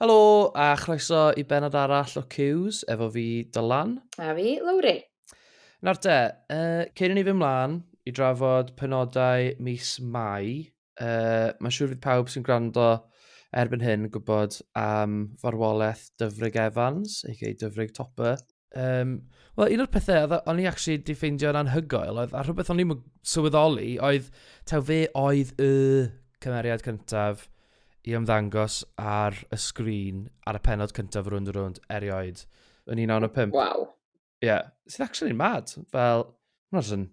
Helo a chroeso i benod arall o Cues efo fi, Dylan. A fi, Lowri. Nawr te, uh, cyn i ni fy mlaen i drafod penodau mis Mai, uh, mae'n siŵr fydd pawb sy'n gwrando erbyn hyn yn gwybod am farwolaeth Dyfrig Evans, ei gei Dyfrig Topper. Um, Wel, un o'r pethau oedd o'n i actually di ffeindio'n anhygoel oedd, a rhywbeth o'n i'n sylweddoli oedd, taw fe oedd y cymeriad cyntaf i ymddangos ar y sgrin ar y penod cyntaf rwy'n rwynd erioed yn 1995. Waw. Ie, yeah. sydd actually'n mad. Fel, mae'n rhan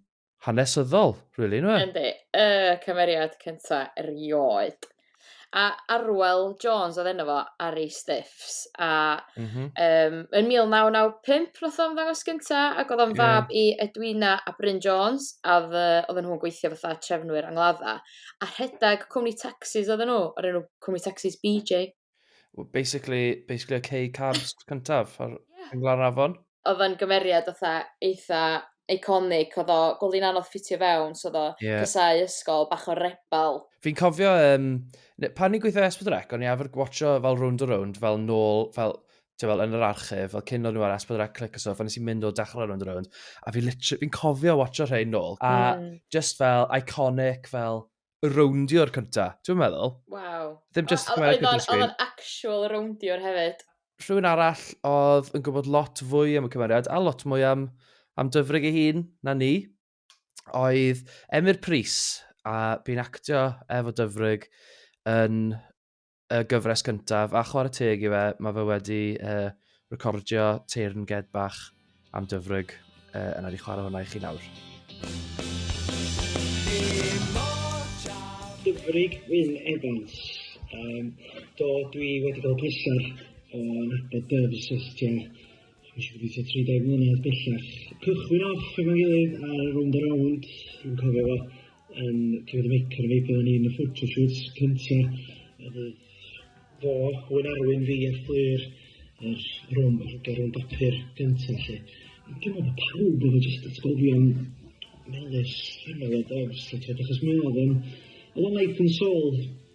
hanesyddol, really, nwe? Yndi, y cymeriad cynta erioed. A Arwel Jones oedd enw fo ar ei stiffs. A mm -hmm. um, yn 1995 nath o'n ddangos gynta, ac oedd o'n yeah. fab i Edwina a Bryn Jones, a oedd nhw'n gweithio fatha trefnwyr angladda. A rhedeg cwmni taxis oedd nhw, o'r enw cwmni taxis BJ. Wel basically, basically y cei carbs cyntaf ar yeah. Glan Afon. Oedd yn gymeriad fatha eitha iconic, oedd o gwylio'n anodd ffitio fewn, so oedd o yeah. cysau ysgol, bach o rebel. Fi'n cofio, um, pan ni'n gweithio Esbyd Rec, o'n i efo'r gwatcho fel round a round, fel nôl, fel ti'n fel yn yr archif, fel cyn o'n nhw ar Esbyd Rec Click a Stuff, o'n nes i'n mynd o dechrau round a round, a fi'n fi cofio watcho rhain nôl, a mm. just fel iconic, fel rowndio'r cynta. Ti'n meddwl? Waw. Ddim just o, chwarae cynta'r sgrin. Oedd o'n actual rowndio'r hefyd. Rhywun arall oedd yn gwybod lot fwy am y cymeriad a lot mwy am, am dyfrig ei hun na ni oedd Emyr Pris a bu'n actio efo dyfrig yn y gyfres gyntaf, a chwarae teg i fe, mae fe wedi uh, recordio teirn ged bach am dyfryg, uh, yna di chwarae hwnna i chi nawr. Dyfryg Wyn Evans. Um, do, dwi wedi cael pleser o'n nabod Dyfs ystia Nes i gobeithio 30 mlynedd bellach. Cychwyn off efo'n gilydd ar y rownd a rownd, dwi'n cofio fo yn Clwyd y Meic ar y Feic, oedden ni yn y photoshoots cynta, a fydd fo, Owen Arwyn, fi a Fflur, yr rownd, y rownd bapur gynta lle. Dwi'n meddwl bod pawb efo jyst atgofion melys, rhyfel o dofs, achos mi oedd o'n, oedd o'n life and soul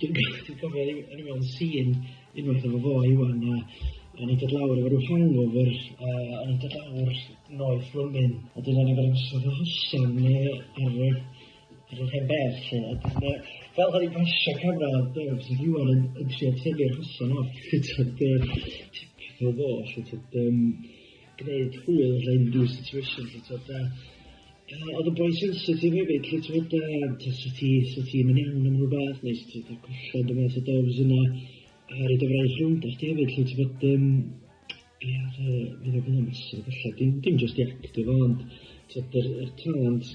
Dwi'n cofio, dwi'n cofio ryw o'n i'n mewn sîn unwaith efo fo Iwan a o'n i'n dod lawr efo ryw hangover a o'n i'n dod lawr noeth Fromin a dwi'n angen bod yn ystod o hosan neu ar y ar yr hen bedd lle a dwi'n yy fel o'n i'n pasio camera de so oedd Iwan yn yn trio tynnu'r hosan off t'od yy typical fo 'lly t'od yym gwneud hwyl rhaid ryw situation lly t'od a a oedd y boi sensitif hefyd lly t'od a t'od sut ti sut ti'n yn iawn am rhywbeth neu sut ti'n cael colled yn fath o doves yna a rhaid o fraint rownd a chdi hefyd lly t'od yym ia oedd yy fydd o fydd o'n massive ella dim dim jyst i actio fo ond t'od yr yr talent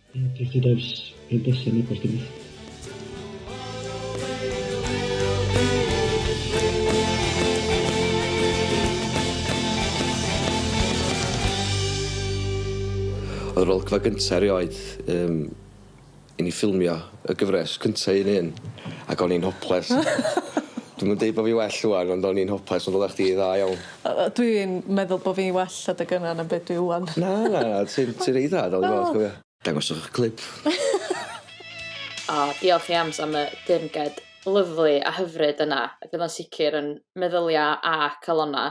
Ges i dawns yn Desen heb os dim ots. Oedd yr olygfa gynta' erioed yym i ni ffilmio y gyfres cynta' un un ac o'n i'n hoples. Dwi'm yn deud bo' fi well ŵan ond o'n i'n hoples ond odda chdi dda iawn. Yy yy dwi'n meddwl bo' fi well adeg yna na be' dwi ŵan. Na na na ti'n ti'n reit dda dal i fod cofia. Dangoswch 'ych clip. O, diolch i Anms am y dirnged lyfli a hyfryd yna, ac fydd o'n sicr yn meddylia a calona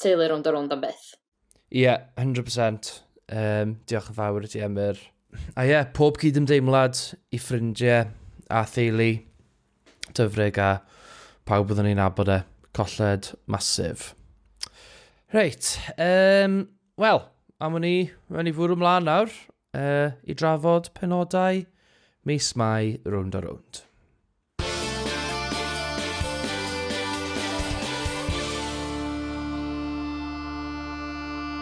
teulu rownd a rownd am byth. Ie, hundred percent. Yym, diolch yn fawr i ti am yr... A ie, pob cydymdeimlad i ffrindie a theulu. Dyfrig a pawb oeddwn ni'n abod e. Colled masif. Reit, um, wel, am ni, mae'n i fwrw mlaen nawr uh, i drafod penodau mis mai rownd a rownd.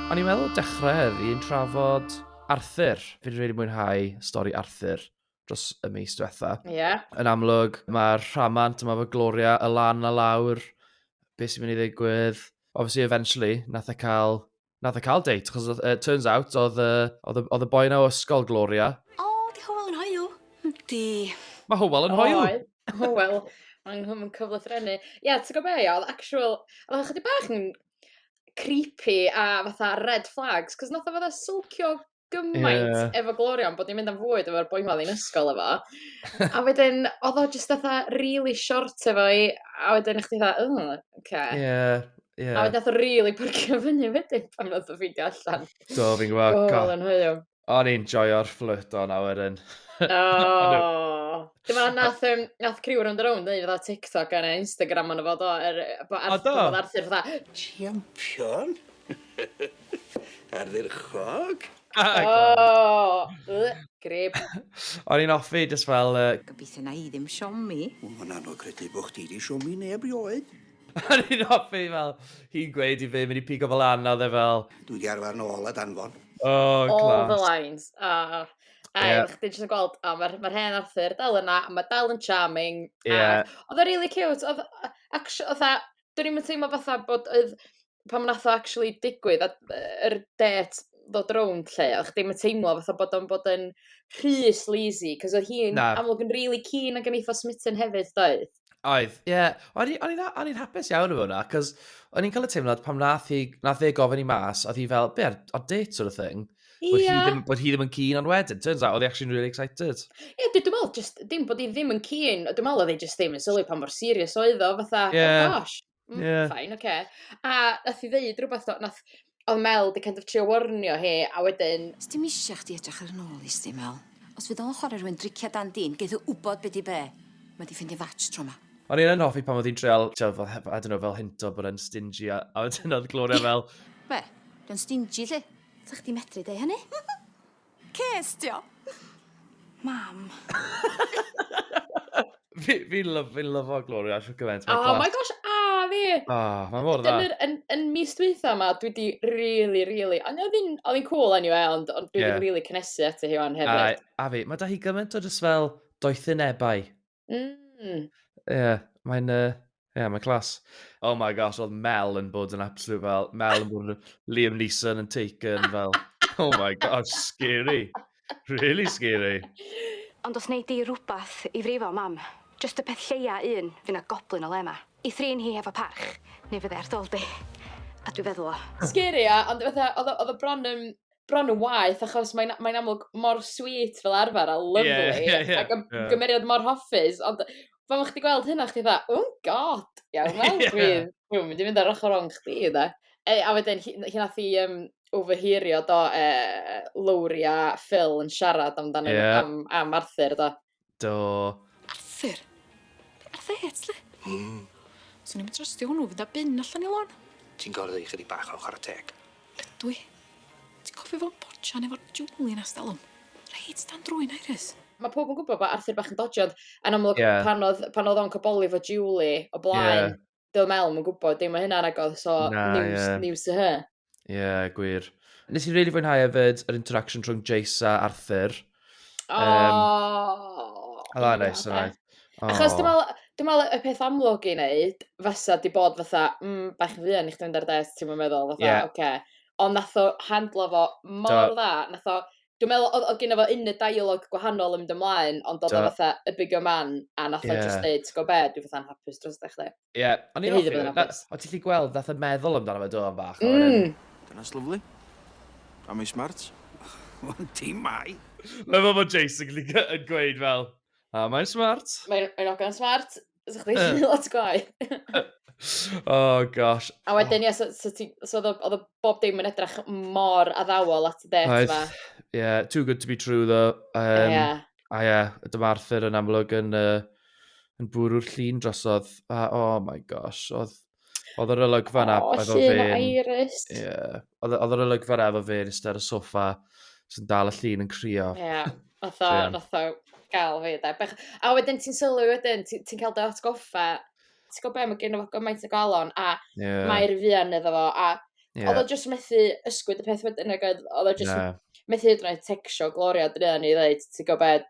O'n i'n meddwl dechrau heddi yn trafod Arthur. Fi'n rhaid i mwynhau stori Arthur. dros y mis diwetha. Ie. Yn amlwg, mae'r rhamant yma fo Gloria y lan a lawr, beth sy'n mynd i ddigwydd. Obviously, eventually, nath e cael, nath e cael date, chos uh, turns out, oedd, uh, oedd, oedd y boi na o ysgol Gloria. O, oh, di Howell yn hoiw. Di. Mae Howell yn hoiw. Oed, Howell. Mae'n hwm yn cyflythrennu. Ie, yeah, ti'n gwybod be, oedd actual... Oedd chydig bach yn creepy a fatha red flags, cos nath o fatha sylcio gymaint yeah. efo Gloria, ond bod ni'n mynd am fwyd efo'r boi ma yn ysgol efo. a wedyn, oedd o jyst fatha really short efo i, a wedyn chdi fatha, oh, okay. Yeah. Yeah. A wedyn oedd really pyrcio fyny wedyn pan oedd o ffeindio allan. Do, fi'n gwybod. Gol yn hwyl. O'n i'n joio'r fflyt o'n awyr yn. Oh. Dyma nath, um, nath criw round around neu fydda TikTok ar Instagram ond o fod o, er, bod Arthur, bod Arthur fydda, Champion? Ardderchog! Oh! Ugh, grib. O'n i'n offi, just fel... Uh... Gobeithio na i ddim siomi. Wel, mae'n anodd credu bod chdi wedi siomi neb rioed. O'n i'n offi fel, hi'n gweud i fi, mynd i pigo fel lan, a oedd e fel... Dwi wedi arfer nôl a danfon. Oh, class. All the lines. Uh, a yeah. chdi jyst yn gweld, oh, mae'r ma hen Arthur dal yna, a mae dal yn charming. Yeah. Oedd o'n really cute. Oedd, actually, oedd, dwi'n mynd teimlo fatha bod oedd pan wnaeth o actually digwydd, a yr det ddod rownd lle, o'ch ddim yn teimlo fatha bod o'n bod yn rhy sleazy, cos oedd hi'n amlwg yn really keen ac yn eitha smitten hefyd, doedd? Oedd, ie. Yeah. O'n i'n hapus iawn efo hwnna, cos o'n i'n cael y teimlad pam nath, hi, nath e gofyn i mas, oedd hi fel, be, ar, ar date sort of thing? Bod, yeah. hi ddim, bod hi ddim yn keen ond wedyn, turns out, oedd hi actually really excited. Ie, yeah, dwi'n meddwl, just, dim bod hi ddim yn keen, dwi'n meddwl oedd hi just ddim yn sylwi pa mor serious oedd o, fatha, oh yeah. oh gosh, Mm, yeah. Fine, oce. Okay. A nath i ddeud rhywbeth, nath, oedd Mel di kind of trio warnio hi, a wedyn... Os dim eisiau chdi edrych ar yn ôl i sti, Mel. Os fydd o'n chwarae rhywun driciau dan dîn, geith o wybod beth i be. Mae di ffeindio fatch tro ma. O'n i'n hoffi pan oedd hi'n treol, I don't know, fel hinto bod yn stingy, a, a wedyn oedd Gloria fel... Be? Dwi'n stingy, lle? Sa chdi medru deu hynny? Ces di o? Mam. Fi, fi lyf, fi'n lyfo Gloria siw gymaint. Oh class. my gosh, a fi! Oh, mae mor dda. Dyna'r, yn, yn mis dwytha yma, dwi di really, really, ond oedd hi'n, oedd hi'n cool anyway, ond, ond dwi yeah. di really cynnesu ati hi o'n hefyd. A, a fi, mae da hi gymaint o jyst fel doethynebau. Mm. Ie, mae'n... Ie, yeah, mae'n clas. Oh my gosh, oedd Mel yn bod yn absolute fel... Mel yn bod yn Liam Neeson yn Taken fel... Oh my gosh, scary. Really scary. Ond os wneud di rhywbeth i frifo mam, just y peth lleia un, fi na goblin o le yma. I thrin hi hefo parch, neu fydde ar dol di. A dwi feddwl o. Scary, ia, ond fatha, oedd o bron yn bron yn waeth, achos mae'n mae amlwg mor sweet fel arfer a lyflu, yeah, yeah, yeah. ac yeah. gymeriad mor hoffus, ond pan o'ch ti gweld hynna, chdi dda, oh god, iawn, wel, yeah. dwi'n dwi mynd i fynd ar ochr o'n chdi, dda. E, a wedyn, hyn ath i um, overheario do, e, Lowri a Phil yn siarad amdano yeah. am, am Arthur, do. Do. Arthur! Arthur Yates, le? Hmm. Swn i'n trystio hwnnw fynd â bin allan i lôn. Ti'n gorfod i chydig bach o chwarae teg. Ydw i. Ti'n cofio fo'n potsian efo'r Julie na stalwm? Reit dan drwy'n Iris. Mae pob yn gwybod bod Arthur bach yn dodgy ond yn amlwg yeah. pan oedd pan oedd o'n coboli fo Julie o blaen yeah. do mewn yn gwybod dim o hynna'n agor, so Na, news, ie. news to her. Ie, yeah, gwir. Nes i'n really fwynhau hefyd yr interaction rhwng Jace a Arthur. O! Um, a dda neis, a dda. Achos dwi'n meddwl, dwi'n meddwl y peth amlwg i wneud fysa di bod fatha, mm, bach yn fuan i chdi mynd ar des, ti'n meddwl, fatha, yeah. oce. Okay. Ond nath o handlo fo mor dda, nath o Dwi'n meddwl oedd, oedd gen fo un y dialog gwahanol yn mynd ymlaen, ond oedd o fatha y bigger man, a nath yeah. o just dweud, ti'n gwybod be, dwi'n fatha'n hapus dros da chdi. Ie, ond i'n hoffi, o ti'n lli gweld, nath o meddwl amdano fe do am bach. Mm. Dyna'n lyflu. A mae'n smart. Ond ti mai. Lyfo fod Jason yn gweud fel, a mae'n smart. Mae'n ogan smart. Os chdi eisiau gwneud lot gwaith. oh gosh. A wedyn, ie, so, so, ti- so oedd o- oedd o bob dim yn edrych mor addawol at y det Oedd, yma. yeah, too good to be true ddo. Um, Ie. A ie, yeah, dyma Arthur yn amlwg yn, uh, yn bwrw'r llun drosodd. A, oh my gosh, oedd Oedd yr olygfa yna oh, efo fe... O, Iris. Ie. Oedd yr olygfa yna efo fe yn ystod y sofa sy'n dal y llun yn crio. Ie. Yeah. Oedd o, gael fi. Da. Bech... A wedyn ti'n sylwi wedyn, ti'n ti cael dy atgoffa. Ti'n gwybod beth, mae gen o gymaint o galon a yeah. mae'r fian iddo fo. A yeah. oedd o jyst methu ysgwyd y peth wedyn ac oedd o jyst yeah. methu hyd yn oed tecsio Gloria dyn ni i ddweud, ti'n gwybod beth,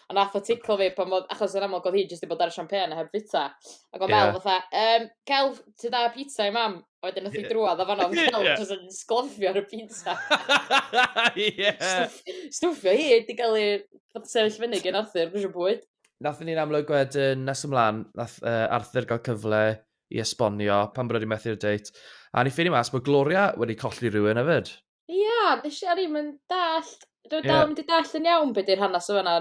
A nath o tickle fi pan odd, achos yn amlwg odd hi jyst 'di bod ar y champagne a heb fita. Ac o'n meddwl fatha, yym, cael ti da pizza i mam? A wedyn nath hi drwad o fan'na, yeah. fel jyst yn sglofio ar y pizza. yeah. Stwff, stwffio hi, di gael ei sefyll fyny gen Arthur, gwrs bwyd. Nath ni'n amlwg wedyn nes ymlaen, nath uh, Arthur gael cyfle i esbonio pan bod wedi methu'r deit. A ni ffeindio mas bod Gloria wedi colli rhywun hefyd. Ia nesh i o'n i'm yn dallt dwi dal ddim 'di dallt yn iawn be' 'di'r hanas y' fana.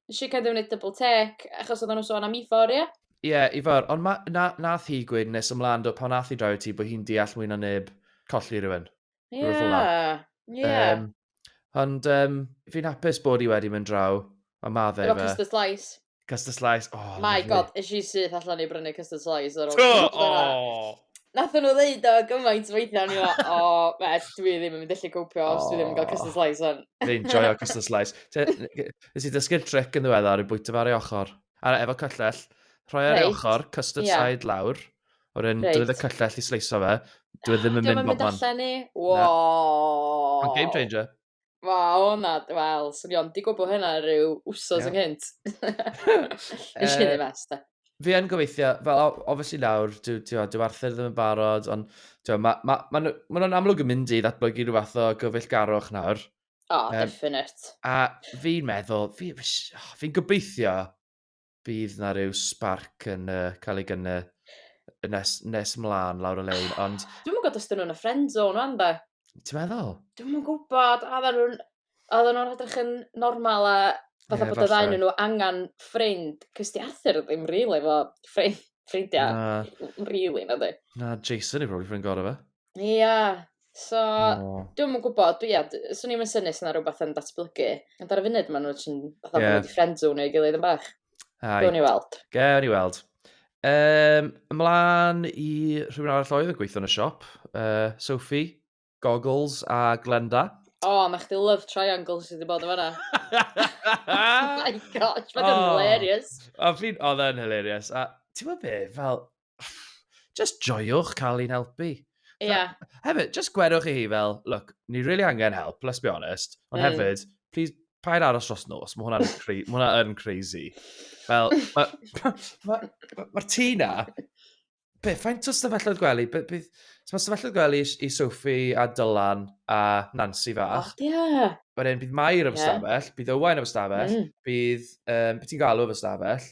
Nesh i kind of neud double take achos oddan nw'n sôn am Ifor ia? Ie Ifor ond ma' na- nath hi gweud nes ymlan do pan nath hi droi ati bo' hi'n deall mwy na neb colli rywun. Ie. Rwbeth fel 'a. Ie. Yym ond yym fi'n hapus bod hi wedi mynd draw a ma' fe efo... Efo clusters llais. Custard slice, o, lyfli. My god, is she syth allan i brynu custard slice ar ôl... Do, o! Nath nhw ddeud o gymaint weithiau, ni o'n o, well, dwi ddim yn mynd allu cwpio os dwi ddim yn cael custard slice o'n. Dwi'n joio custard slice. Nes i ddysgu'r trick yn ddiweddar i bwyta fe ar ei ochr. A efo cyllell, rhoi ar ei ochr, custard yeah. side lawr, o'r un right. drwy y cyllell i sleiso fe, dwi e ddim yn mynd bob man. Dwi'n mynd allan ni. Wow. Game changer. Wel, o na, wel, swn i ond i gwybod hynna rhyw wsos yng ynghynt. Nes i ddim es, da. Fi yn gobeithio, fel obviously nawr, dyw, dyw, dyw Arthur ddim yn barod, ond dyw, mae ma, ma, ma, ma nhw'n amlwg yn mynd i ddatblygu rhyw fath o gyfeillgarwch nawr. O, oh, um, definite. A fi'n meddwl, fi'n fi, oh, fi gobeithio bydd na rhyw spark yn uh, cael ei gynnu nes, nes mlaen lawr y lein, ond... Dwi'n gwybod os dyn nhw'n y friend zone o'n da. Ti'n meddwl? Dwi'n gwybod, a dda nhw'n... A dda nhw'n edrych yn normal a Fatha yeah, bod y ddain nhw angen ffrind, cys di Arthur ddim rili really, efo ffrind, ffrindiau, no. really, na di. Na, Jason yw probably ffrind gorau fe. Ia, so oh. dwi'm yn gwybod, dwi, ia, swn i'n synnu sy'n rhywbeth yn datblygu. Ond ar y funud, maen nhw'n sy'n fatha yeah. wedi ffrind zone ei gilydd yn bach. Ai. Gwni weld. Gwni weld. Um, ymlaen i rhywun arall oedd yn gweithio yn y siop. Uh, Sophie, Goggles a Glenda. O, oh, mae chdi love triangle sydd wedi bod yn fanna. oh my gosh, mae'n oh. hilarious. O, oh, oedd e'n hilarious. A ti'n gwybod be, fel, just joiwch cael ein helpu. Ie. Yeah. Hefyd, just gwerwch i hi fel, look, ni really angen help, let's be honest. Ond mm. hefyd, please, paid aros dros nos, mae hwnna'n cra hwnna yn crazy. Fel, mae'r ma, ma, ma, ma tŷ na, be, faint o stafelloedd gwely, be, be, mae stafelloedd gwely i, i Sophie a Dylan a Nancy fach. Oh, yeah. Wedyn, bydd Mair yn yeah. stafell, bydd Owain yn stafell, mm. bydd, um, beth ti'n galw yn stafell,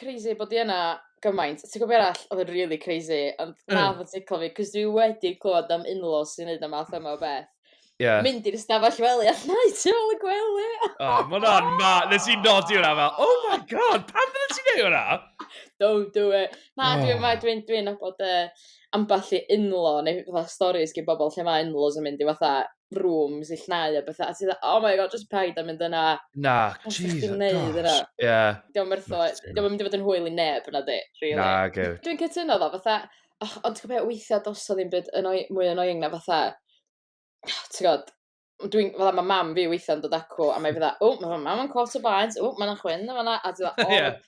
crazy bod i yna gymaint. Ti'n gwybod beth arall oedd yn really crazy, ond mm. na fod ti'n clywed, cos dwi wedi clywed am unlos sy'n neud am math yma o beth. Yeah. Mynd i'r stafell wely a llnau ti ôl y gwely. oh, mae hwnna'n ma. Nes i nodi hwnna fel, oh my god, pam fydde ti'n neud hwnna? Don't do it. Na, oh. dwi'n dwi, dwi, dwi nabod uh, ambell i unlo, neu fatha stories gen bobl lle mae unlos yn mynd i fatha rooms i llnau a bethau, a ti dda, oh my god, just paid a mynd yna. Na, jeez, o gosh. Yeah. Diolch yn rtho, diolch yn mynd i fod yn hwyl i neb yna di, really. Na, go. Dwi'n cytuno ddo, fatha, oh, ond ti'n gwybod weithiau dos o ddim byd yn o'i, mwy yn o'i na fatha, ti'n gwybod, dwi'n, fatha, mae mam fi weithiau'n dod acw, a mae fydda, o, mae mam yn cwrt o baent, o, mae'n chwyn, mae'n a, a ti'n dda, oh, yeah.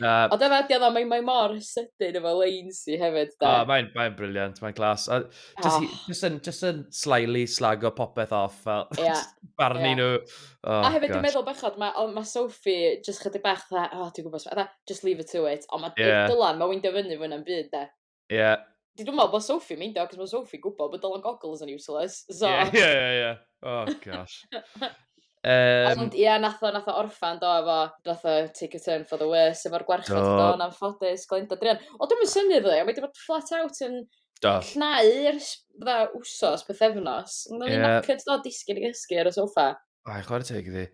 Uh, Ond dyna ydi o, mae, mae mor sydyn efo Lainsy hefyd, da. Oh, mae'n mae briliant, mae'n glas. A just, oh. Ah. just, yn, just yn slyly slago popeth off, fel yeah. barnu yeah. nhw. Oh, a hefyd, dwi'n meddwl bechod, mae ma Sophie just chydig bach dda, oh, dwi'n gwybod, dda, just leave it to it. Ond mae yeah. Dylan, mae'n wyndio fyny fwy na'm byd, da. Ie. Yeah. Dwi'n meddwl bod Sophie yn meindio, cos mae Sophie gwybod bod Dylan Goggles yn useless, so... Ie, ie, ie, ie. Oh, gosh. Um, Ond ie, yeah, nath o, nath o orffan, do, efo, nath o take a turn for the worse, efo'r gwarchod do, do yn anffodus, Glenda Drian. O, dwi'n mynd syni fydde, mae wedi bod flat out yn do. cnau yr dda wsos, pethefnos. Mae'n yeah. knackered do, disgyn i gysgu ar y sofa. Ai, chwarae teg iddi.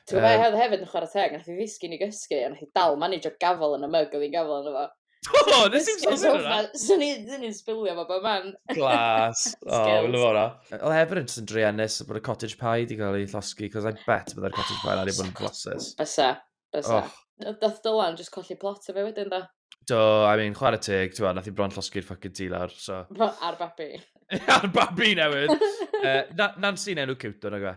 Ti'n gwybod um, hefyd yn chwarae teg, nath i ddisgyn i gysgu, a nath i dal manage o gafel yn y mug oedd hi'n gafel yn efo. O, nes i'n sôn hyn yna. Swn i'n sbilio fo bod man. Glas. O, wyl o fawr o. O, hefyd yn sy'n druenus bod y cottage pie di cael ei llosgi, cos I bet byddai'r cottage pie na wedi bod yn gloses. Bysa. Bysa. Oh. Nath nath Dylan just colli plot o fe wedyn do. Do, I mean, chwarae teg, ti'n gwybod, nath i bron llosgi'r ffucking tŷ lawr, so... Fo ar babi. Ar babi newydd! uh, na, Nancy'n enw cute, o'n fe?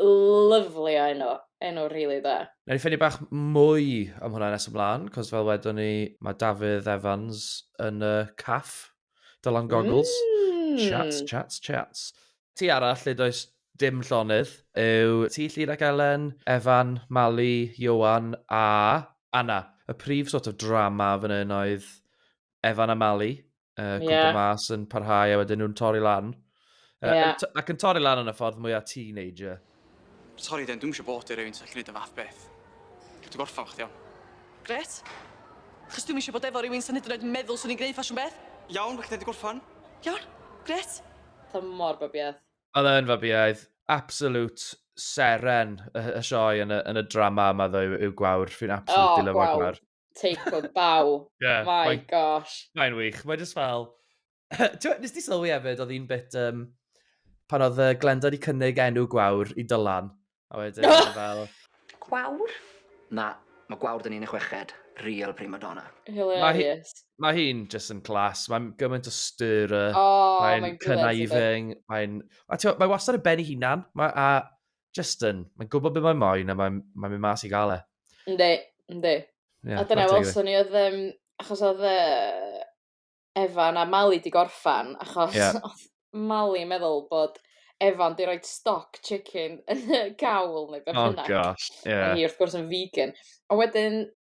Lyfli o enw. Enw rili da. Nawn ni ffynnu bach mwy am hwnna nes ymlaen, cos fel wedon ni, mae Dafydd Evans yn y caff Dylan Goggles. Mm. Chats, chats, chats. Ti arall lle does dim llonydd yw Ti Llyd ac Elen, Evan, Mali, Ioan a Anna. Y prif sort of drama fan hyn oedd Evan a Mali, uh, yeah. mas yn parhau a wedyn nhw'n torri lan. Uh, yeah. ac yn torri lan yn y ffordd mwyaf teenager. Sorry den, dwi'n eisiau bod i rhywun sy'n gallu gwneud y fath beth. Dwi'n gorffan chdi iawn. Gret? Chos dwi'n eisiau bod efo rhywun sy'n hyd yn oed meddwl swn i'n gwneud ffasiwn beth. Iawn, felly wedi gorffan. Iawn, gret. Ta mor babiaeth. Oedd e'n fabiaeth. Absolute seren y, y sioe yn y, yn y drama yma ddo yw, yw gwawr. Fi'n absolutely oh, lyfo gwawr. take o baw. yeah, My mae'n- gosh. Mae'n wych. Mae jyst fel... Ti'n nes di sylwi hefyd, oedd un bit... Um, pan oedd uh, Glenda wedi cynnig enw gwawr i Dylan. A wedyn oedd e fel... Gwawr? Na, mae gwawr dyn ni'n y chweched. Real prima donna. Hilarious. Mae hi'n just yn clas. Mae'n gymaint o styr. Oh, mae'n conniving. Mae'n... Mae wastad y ben i hunan. Mae, a just yn, mae'n gwybod beth mae'n moyn a mae'n mae mynd mas i gael e. Ynddi, ynddi. Yeah, a dyna welson ni oedd, um, achos oedd uh, Evan a Mali di gorffan, achos yeah. oedd Mali meddwl bod Evan di roi stock chicken yn y gawl neu beth oh, bynnag. Oh gosh, yeah. A hi wrth gwrs yn vegan. A wedyn,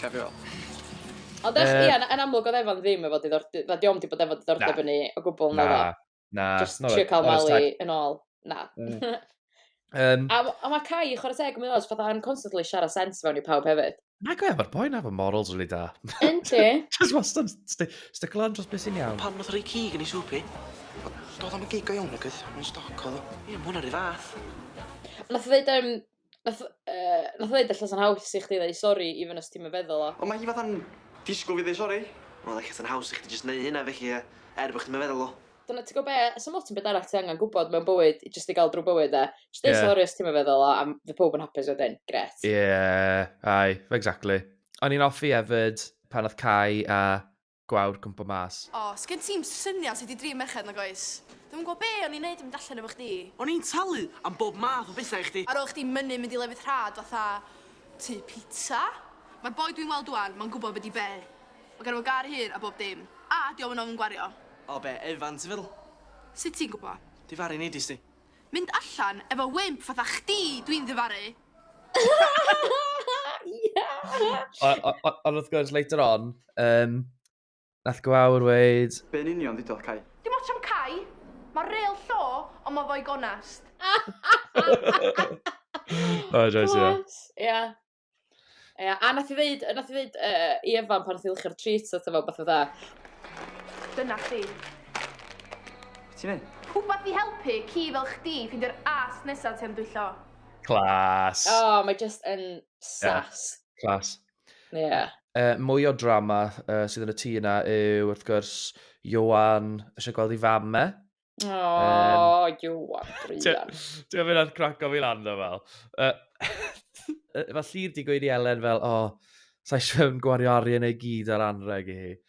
Cefio. Ond ech, ie, yn amlwg oedd Evan ddim efo diddordeb, na, diom di bod efo diddordeb yn ni o gwbl na ddo. Na, Just trio cael Mali yn ôl. Na. Um, a, a mae Kai, chwarae teg, mae'n oes, fatha yn constantly siarad sens fewn i pawb hefyd. Na gwe, mae'r boi na fy morals really da. Yn ti? Just wastad stick lan dros beth sy'n iawn. Pan oedd rei cig yn ei swpi. Doedd o'n gig o iawn agos, mae'n stoc oedd o. Ie, mae hwnna'n rhy fath. Nath ddeud, um, Nath yy nath o ddeud ella sa'n haws i chdi ddeu sori even os ti'm yn feddwl o. Ond ma' hi fatha'n disgwl fi ddeu sori. Wel ella sa'n haws i chdi jyst neu' hynna felly yy er bo' chdi'm yn feddwl o. Dyna ti gwbo be'? Sa'm ots am beth arall ti angan gwbod mewn bywyd i jyst i ga'l drw bywyd 'de? Jyst deu sori os ti'm yn feddwl o a fydd powb yn hapus wedyn. Grêt. Ie, aye, exactly. O'n i'n offi efyd pan nath Cai a gwawr cwmpo mas. O, sgen ti'm syniad sut i drin merched nag oes? Dwi'm yn gwbod be' o'n i'n neud yn mynd allan efo chdi. O'n i'n talu am bob math o betha i chdi. Ar ôl chdi mynnu mynd i lefydd rhad fatha tŷ pitsa. Ma'r boi dwi'n weld ŵan, ma'n gwbod be' 'di be'. Ma' ganddo fo gar hir a bob dim. A 'di o'm yn ofn gwario. O be', Evans ti'n feddwl? Sut ti'n gwbo? Difaru neidis di. Mynd allan efo wimp fatha chdi dwi'n ddifaru! Ond wrth gwrs, later on, um, nath gwawr weid... Be'n union ddidodd Cai? Dim ots am Cai, mae real llo, ond mae fo'i gonast. O, joes, ia. Ia. Ia, a nath i ddeud, nath i ddeud uh, i Evan pan nath i lychio'r treats at efo, beth dda. Dyna chdi. Ti'n ei? Rhywbeth i helpu ci fel chdi ffindio'r as nesaf ti'n dwyllo. Clas! O, oh, mae just yn sas. Yeah. Clas. Ie. Yeah. Uh, mwy o drama uh, sydd yn y tŷ yna yw, wrth gwrs, Johan eisiau gweld ei fam me. O, oh, um, Johan, Brian. Ti'n mynd ar craco fi lan o fel. Uh, Falle di gweud i Elen fel, o, oh, sa'i eisiau gwario arian ei gyd ar anreg i hi.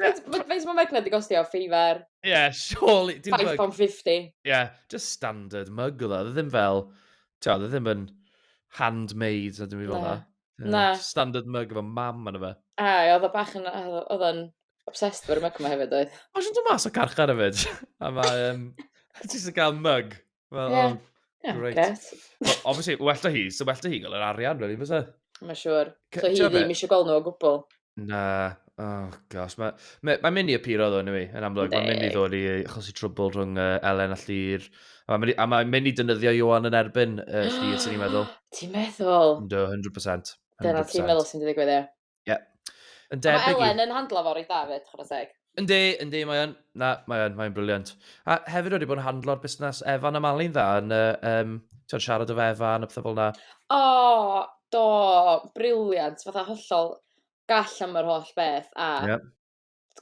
Faint ma- faint mae Magna di gostio? Feifer? Ie, yeah, surely. dim mug. £5.50. Ie, yeah, just standard mug oedd o. Oedd e ddim fel, ti'n oedd e ddim yn handmade na dim i fel Na. na. Ie, Na. just Standard mug efo mam yna fe. A, oedd o bach yn... Oedd o'n obsessed fo'r myg yma hefyd oedd. Mae sy'n dod mas o carchar hefyd. A mae... Um, ti sy'n cael mug. Well, yeah. um, yeah, great. Guess. Well, obviously, well da hi, so well da hi gael yr arian, really, fysa? Mae'n siŵr. So hi ddim eisiau gweld nhw o gwbl. Na, oh gosh, mae ma, ma mynd i apuro ddo ni, yn amlwg. Mae mynd i ddod i achosi trwbl rhwng uh, Elen a Llyr. A mae ma mynd i dynyddio Johan yn erbyn uh, Llyr, sy'n ni'n meddwl. Ti'n meddwl? Do, 100%. 100%. Dyna ti'n meddwl sy'n digwydd, ie. Ie. Yn debyg i... Mae Elen yn handlo fo reit dda fyd, chwrdd teg. Yndi, yndi, mae o'n... Na, mae o'n, mae o'n briliant. A hefyd wedi bod yn handlo'r busnes Evan a Mali'n dda, yn uh, um, ti'n siarad o fe Evan a pethau fel yna. O, oh, do, briliant, fatha hollol gall am yr holl beth, a yeah.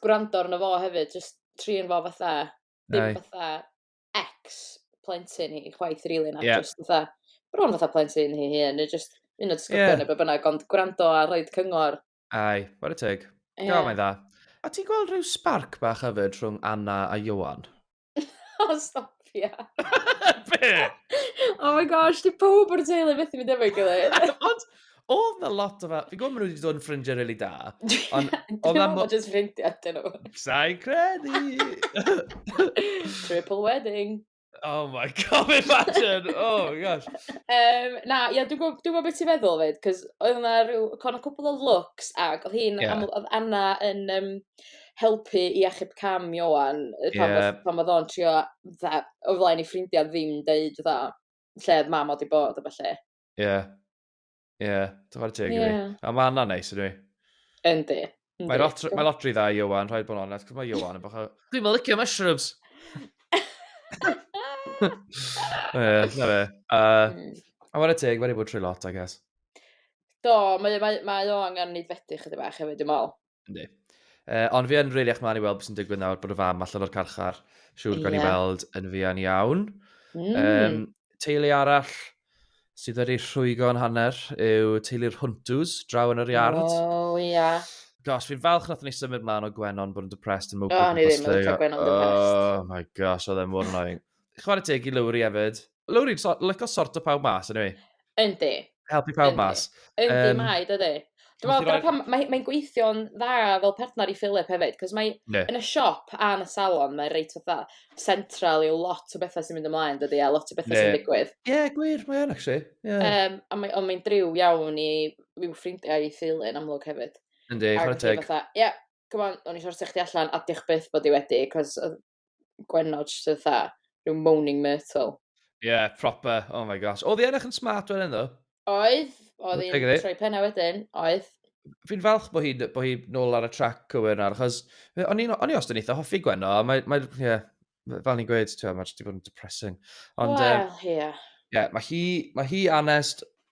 gwrando arno fo hefyd, jyst trin fo fatha, dim Aye. fatha ex plentyn hi chwaith rili na yeah. just fatha bron fatha plentyn hi hyn neu just un o disgyblion yeah. neu be bynnag ond gwrando a rhaid cyngor. Ai, what a teg. Yeah. Gael mae'n dda. A ti'n gweld rhyw spark bach hefyd rhwng Anna a Johan? o, stop ia. Be? Oh my gosh, di pob o'r teulu methu mynd efo'i gilydd. Ond, Oedd na lot o fel... Fi'n gwybod maen nhw wedi dod yn ffrindiau rili da. Ond oedd na... Dim ond jyst ffrindiau dyn nhw. Sa'i credu! Triple wedding. Oh my god, imagine! Oh my gosh. Um, na, ie, yeah, dwi'n gwybod dwi beth ti'n feddwl fyd, cos oedd yna rhyw, con o cwpl o looks, ac oedd hi'n, yeah. oedd Anna yn um, helpu i achub cam Iowan, pan, yeah. pan oedd o'n trio, o flaen i ffrindiau ddim deud, fatha, lle oedd mam oedd i bod, a falle. Ie. Yeah. Ie, yeah, dyfa'r teg i fi. A mae hwnna'n neis ydw i. Yndi. Mae lot, mae lot rhy dda i Iwan, rhaid bod yn onest, cos mae Iwan yn bach o... Dwi'n mynd licio mushrooms! Ie, na fe. Hmm. A mae'n y teg, mae'n ei bod trwy lot, I guess. Do, mae, mae, mae o angen neud fethu chyda bach hefyd, dwi'n meddwl. Yndi. Uh, ond fi yn rili eich mlaen i weld beth sy'n digwydd nawr bod y fam allan o'r carchar. Siwr yeah. gan i weld yn fuan iawn. Mm. Um, teulu arall sydd wedi rhwygo yn hanner yw teulu'r Hwntws, draw yn yr iard. O, oh, ia. Yeah. Gosh, fi'n falch nath ni symud mlaen o Gwenon bod yn depressed yn mwg. O, ni ddim yn cael Gwenon depressed. Oh my gosh, oedd e mor annoying. Chwarae teg i Lowry hefyd. Lowri, so, lyco sort o pawb mas, anyway. Yndi. Helpu pawb Yndi. mas. Yndi, um, mae, dydy. Dwi'n meddwl, dyna pam, mae'n mae gweithio'n dda fel partner i Philip hefyd, cos mae yeah. yn y siop a yn y salon, mae'n reit fatha central yw lot o bethau sy'n mynd ymlaen, dydy, a lot o bethau yeah. sy'n digwydd. Ie, yeah, gwir, mae yn, actually. Yeah. Um, a mae, ond mae'n driw iawn i i'w ffrindiau i Philip yn amlwg hefyd. Yndi, chwarae teg. Ie, yeah, come on, o'n i siarad chdi allan, a diolch byth bod i wedi, cos gwenod, just yn dda, rhyw moaning myrtle. Ie, yeah, proper, oh my gosh. Oedd i ennill yn smart wedyn ddo? Oedd, oedd i'n troi penna wedyn, oedd. Fi'n falch bod hi'n bo hi nôl ar y trac o yn ar, achos o'n i os dyn eitha hoffi Gwenno, a mae, mae, yeah, fel ni'n gweud, ti'n mae wedi bod yn depressing. Ond, well, um, yeah. Yeah, mae hi, mae hi anest,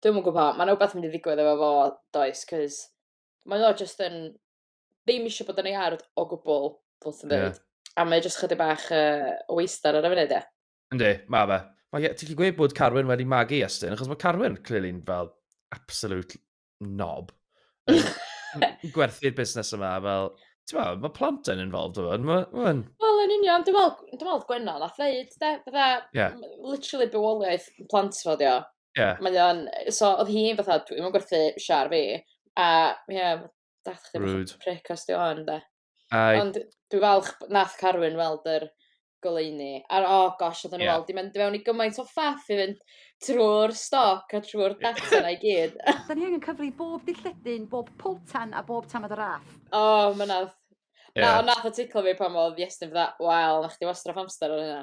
Dwi'm yn gwbo pam. Ma' 'na wbath mynd i ddigwydd efo fo does 'c'os mae o jyst yn ddim isio bod yn ei ardd o gwbwl, fel ti'n deud. Ie. A mae o jyst chydig bach yy o waystar ar y funud ie. Yndi, ma' fe. Mae e, ti'n gallu gweud bod Carwyn wedi magu Iestyn, achos mae Carwyn, clearly'n fel absolute knob. Yn gwerthu'r busnes yma, fel, ti'n ma, mae plant yn involved o hwn, mae hwn. Wel, yn union, dwi'n meddwl, dwi'n meddwl Gwenno, nath ddeud, de, fydda, yeah. literally bywoliaeth plant fo, dio. Yeah. Mae o'n... So, oedd hi fatha, dwi'n mynd gwerthu siar fi. A, ie, yeah, dath chdi Rude. fatha pric os di o'n, de. Ai. Ond dwi'n falch nath Carwyn weld yr goleini. A, oh gosh, oedd nhw'n yeah. weld i mynd fewn i gymaint o ffaff i fynd trwy'r stoc a trwy'r data na i gyd. Da ni angen cyfri bob dilledyn, bob potan a bob tamad o raff. O, oh, mae nath. Yeah. Na, nath o ticlo fi pan oedd Iestyn fydda, wel, na chdi wastraff amser ar hynna.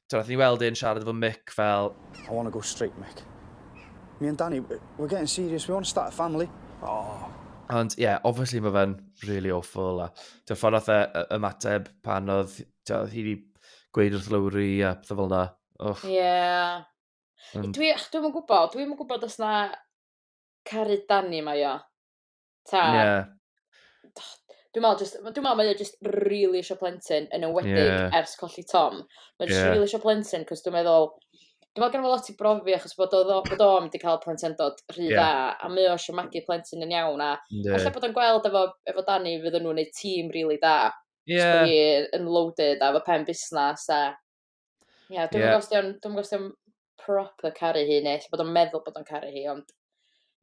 Ti'n rhaid ni weld e'n siarad efo Mick fel... I want to go straight, Mick. Me and Danny, we're getting serious, we want to start a family. Oh. Ond ie, yeah, obviously mae fe'n really awful. A ti'n ffordd oedd e ymateb pan oedd, ti'n hi wedi gweud wrth Lowry a pethau fel na. Ie. Yeah. Um, dwi'n dwi gwybod, dwi'n gwybod os na caru Danny mae o. Ta... Ie. ...dwi me'wl jyst ma' dwi me'wl mae o jyst rili isio plentyn yn enwedig... Ie. ...ers colli Tom. Ie. Mae jyst rili isio plentyn 'c'os dwi meddwl dwi me'wl gynno fo lot i brofi achos bod o ddo- bod o mynd i ca'l plentyndod rhy dda... Ie. ...a mae o isio magu plentyn yn iawn a... Yndi. ...ella bod o'n gweld efo efo Dani fydden nhw'n neud tîm rili da. Ie. Achos bo' hi yn loaded a efo pen busnas a Ie, dwi'm yn gwybod os 'di o'n... dwi'm yn gwybod os 'di o'n proper caru hi, neu ella bod o'n meddwl bod o'n caru hi, ond...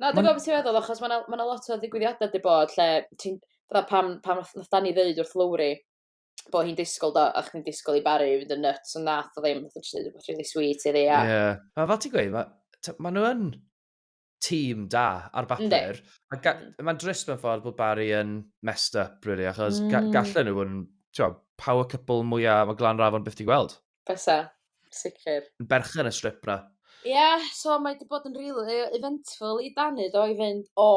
Na, dwi'n gwybod beth ti'n feddwl, achos mae 'na ma' 'na lot o ddigwyddiadau 'di bod lle ti'n... fatha pan pan nath nath Dani ddeud wrth Lowri bod hi'n disgwyl do, o'ch chdi'n disgwyl i Barry fynd yn nuts, ond nath o ddim, nath o jyst deud rywbeth rili sweet iddi a... Ie. A fel ti'n gweud, ma' t'o' ma' nw yn tîm da ar bapur. Mm. Mae'n drist mewn ffordd bod Barry yn messed up, really, achos mm. ga gallen nhw yn power couple mwyaf mae Glan Rafon byth di gweld. Besa, sicr. Yn berchen y strip na. Ie, yeah, so mae wedi bod yn rili really eventful i Dani do i fynd o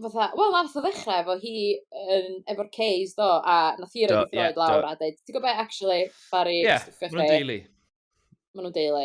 fatha, wel nath o ddechrau efo hi yn, efo'r Ks do, a nath hi roi yeah, lawr a dweud, ti'n gwybod actually, Barry, yeah, maen nhw'n deulu. Maen nhw'n deulu.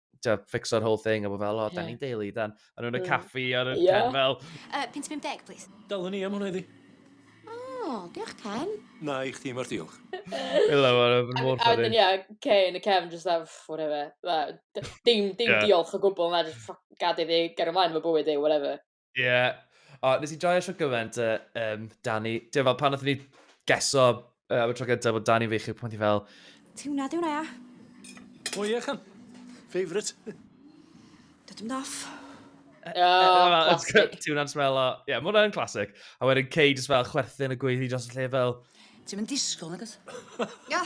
to fix our whole thing, a bod fel, o, yeah. da ni'n deulu, dan, a nhw'n y caffi ar y yeah. pen fel... Uh, 50, please. Dalwn ni am hwnna iddi. O, oh, diolch Ken. Na, i chdi mae'r diolch. Ila, mae'n mor ffynnu. A wedyn, ia, Ken a Kevin just have, whatever. Dim, dim yeah. diolch o gwbl, na, just gad iddi ger ymlaen fy bywyd ei, whatever. Ie. O, nes i joio siwr gymaint, uh, um, Dani. Dwi'n fel, pan nath ni geso uh, am y tro gyntaf bod Dani fi chi, pan ti fel... Ti hwnna, di hwnna, ia? O ie, chan. Favourite. Dydym doff. Oh, Ti hwnna'n smell o... Ie, mae hwnna'n classic. A wedyn Cei jyst fel chwerthin y gweithio dros y lle fel... Ti'n mynd disgwyl, nagos? Ia.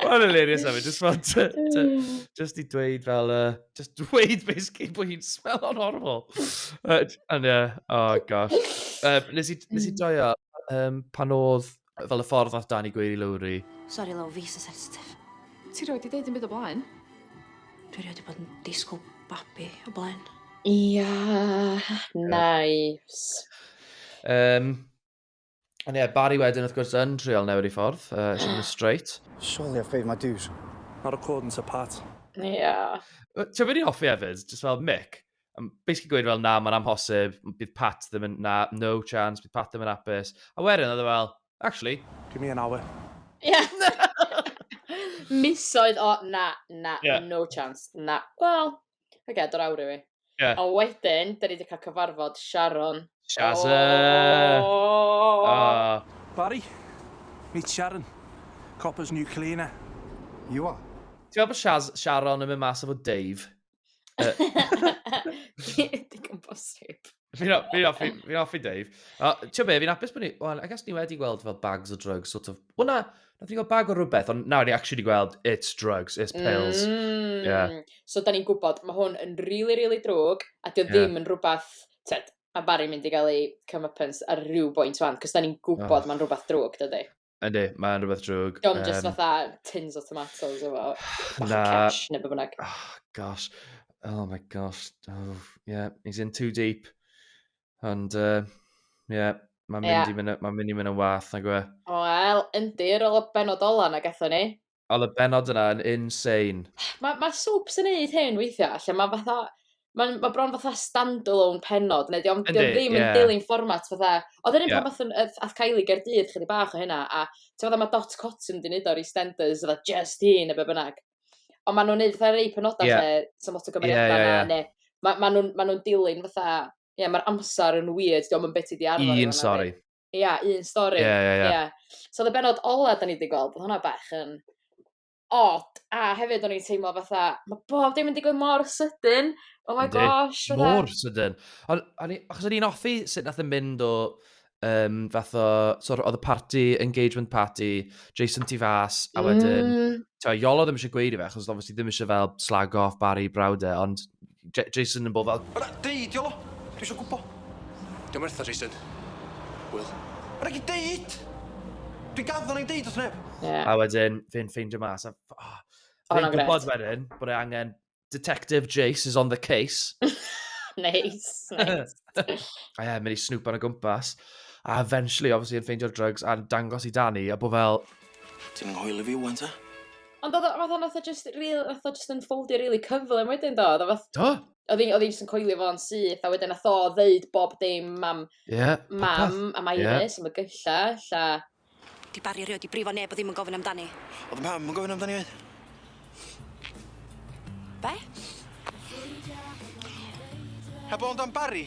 Mae'n hilarious hefyd, just fel, just i dweud fel, uh, just dweud basically bod hi'n smello'n horfol. Uh, and yeah, oh gosh. Uh, nes i, nes i joio, um, pan oedd fel y ffordd nath Dani gweud i Lowry. Sorry Low, fi sy'n sensitif. Ti roed i ddeud yn byd o blaen? Dwi roed i bod yn disgwyl babi o blaen. Ia, yeah, nice. Um, Ond ie, Barry wedyn wrth gwrs yn trial newid ei ffordd, uh, sy'n mynd straight. Surely I've paid my dues. Not recording to Pat. Ie. Yeah. Ti'n mynd i'n hoffi hefyd, just fel Mick, um, basically gweud fel na, mae'n amhosib, bydd Pat ddim yn, na, no chance, bydd Pat ddim yn apus. A wedyn oedd e fel, actually, give me an hour. Ie. Yeah. Misoedd o, na, na, yeah. no chance, na. Wel, Oce, okay, dod awr i fi. Yeah. A wedyn, da ni wedi cael cyfarfod Sharon. Shazza! Oh. Oh. Barry, meet Sharon, Copper's new cleaner. You are? Ti'n meddwl bod Shaz Sharon yn mynd mas efo Dave? Digon bosib. Fi'n hoffi, fi'n hoffi Dave. Ti'n be, fi'n apus bod ni... Wel, I guess ni wedi gweld fel bags o drugs, sort of... Wel na, nath ni gweld bag o rhywbeth, ond nawr ni actually wedi gweld it's drugs, it's pills. Mm. Yeah. So, da ni'n gwybod, mae hwn yn really, really drwg, a dio yeah. ddim yn rhywbeth... Ted, a Barry mynd i gael ei comeuppance ar rhyw bwynt fan, cos da ni'n gwybod oh. mae'n rhywbeth drwg, dydy. Yndi, mae yn rhywbeth drwg. Diolch yn just fatha tins o tomatoes efo bach o cesh neu beth bynnag. Oh, gosh. Oh my gosh. Oh, yeah, he's in too deep. Ond, uh, yeah, mae'n mynd, yeah. i, mynd, ma mynd i mynd yn wath, nag yw e? Wel, yndi, rola benod ola na gatho ni. Oedd y bennod yna yn insane. Mae ma soaps yn neud hyn weithiau, lle mae fatha... Mae ma bron fatha stand-alone pennod, neu dio'm dio ddim yn dilyn fformat fatha... Oedd yr un pan wnaethon ath Kylie Gaerdydd chydig bach o hynna, a ti'n gwybod mae Dot Cotton wedi neud o'r EastEnders, fatha just hi neu be bynnag. Ond maen nhw'n neud fatha rei penodau yeah. lle sy'n lot o gymeriadau yeah, yeah, yeah. neu maen ma nhw'n ma nhw dilyn fatha... Ie, yeah, mae'r amser yn weird, diolch yn beth i di arfer. Un, sori. Ia, un stori. Ie, ie, ie. Ie. So oedd y benod ola da ni wedi gweld, oedd hwnna bach yn odd, a hefyd o'n i'n teimlo fatha, mae bob dim yn digwydd mor sydyn, oh my Yndi. gosh, fatha. Mor sydyn. Ond, o'n i- achos o'n i'n offi sut nath yn mynd o, um, fath o, so oedd y party, engagement party, Jason tu fas, a wedyn, Mm, Tewa, Iolo ddim eisiau gweud i fe, achos obviously ddim eisiau fel slag off Barry brawd e, ond J Jason yn bod fel... Yna, deud i o! Dwi eisiau gwybod. Dwi'n wertha, Jason. Wyl. Yna gyd deud! Dwi'n gaddo na'i deud wrth neb. Yeah. A wedyn, fi'n ffeindio mas. A, oh, fi'n gwybod wedyn bod e angen Detective Jace is on the case. nice, nice. a ie, mynd i snwp ar y gwmpas. A eventually, obviously, yn ffeindio'r drugs a'n dangos i Danny, a bod fel... Ti'n nghoel i fi wan, ta? Ond odd o fatha nath o jyst ril- nath o jyst ynfoldio rili cyflym wedyn do? Odd o fath... Do. ...odd 'i odd 'i jyst yn coelio fo'n syth a wedyn nath o ddeud bob dim am... Ie. ...popeth. ...mam a ma' Iris a ma' gyllell a... 'Di Bari erioed 'di brifo neb o ddim yn gofyn amdani. O'dd 'yn mam yn gofyn amdani efyd. Be'? Heb ofn am Bari?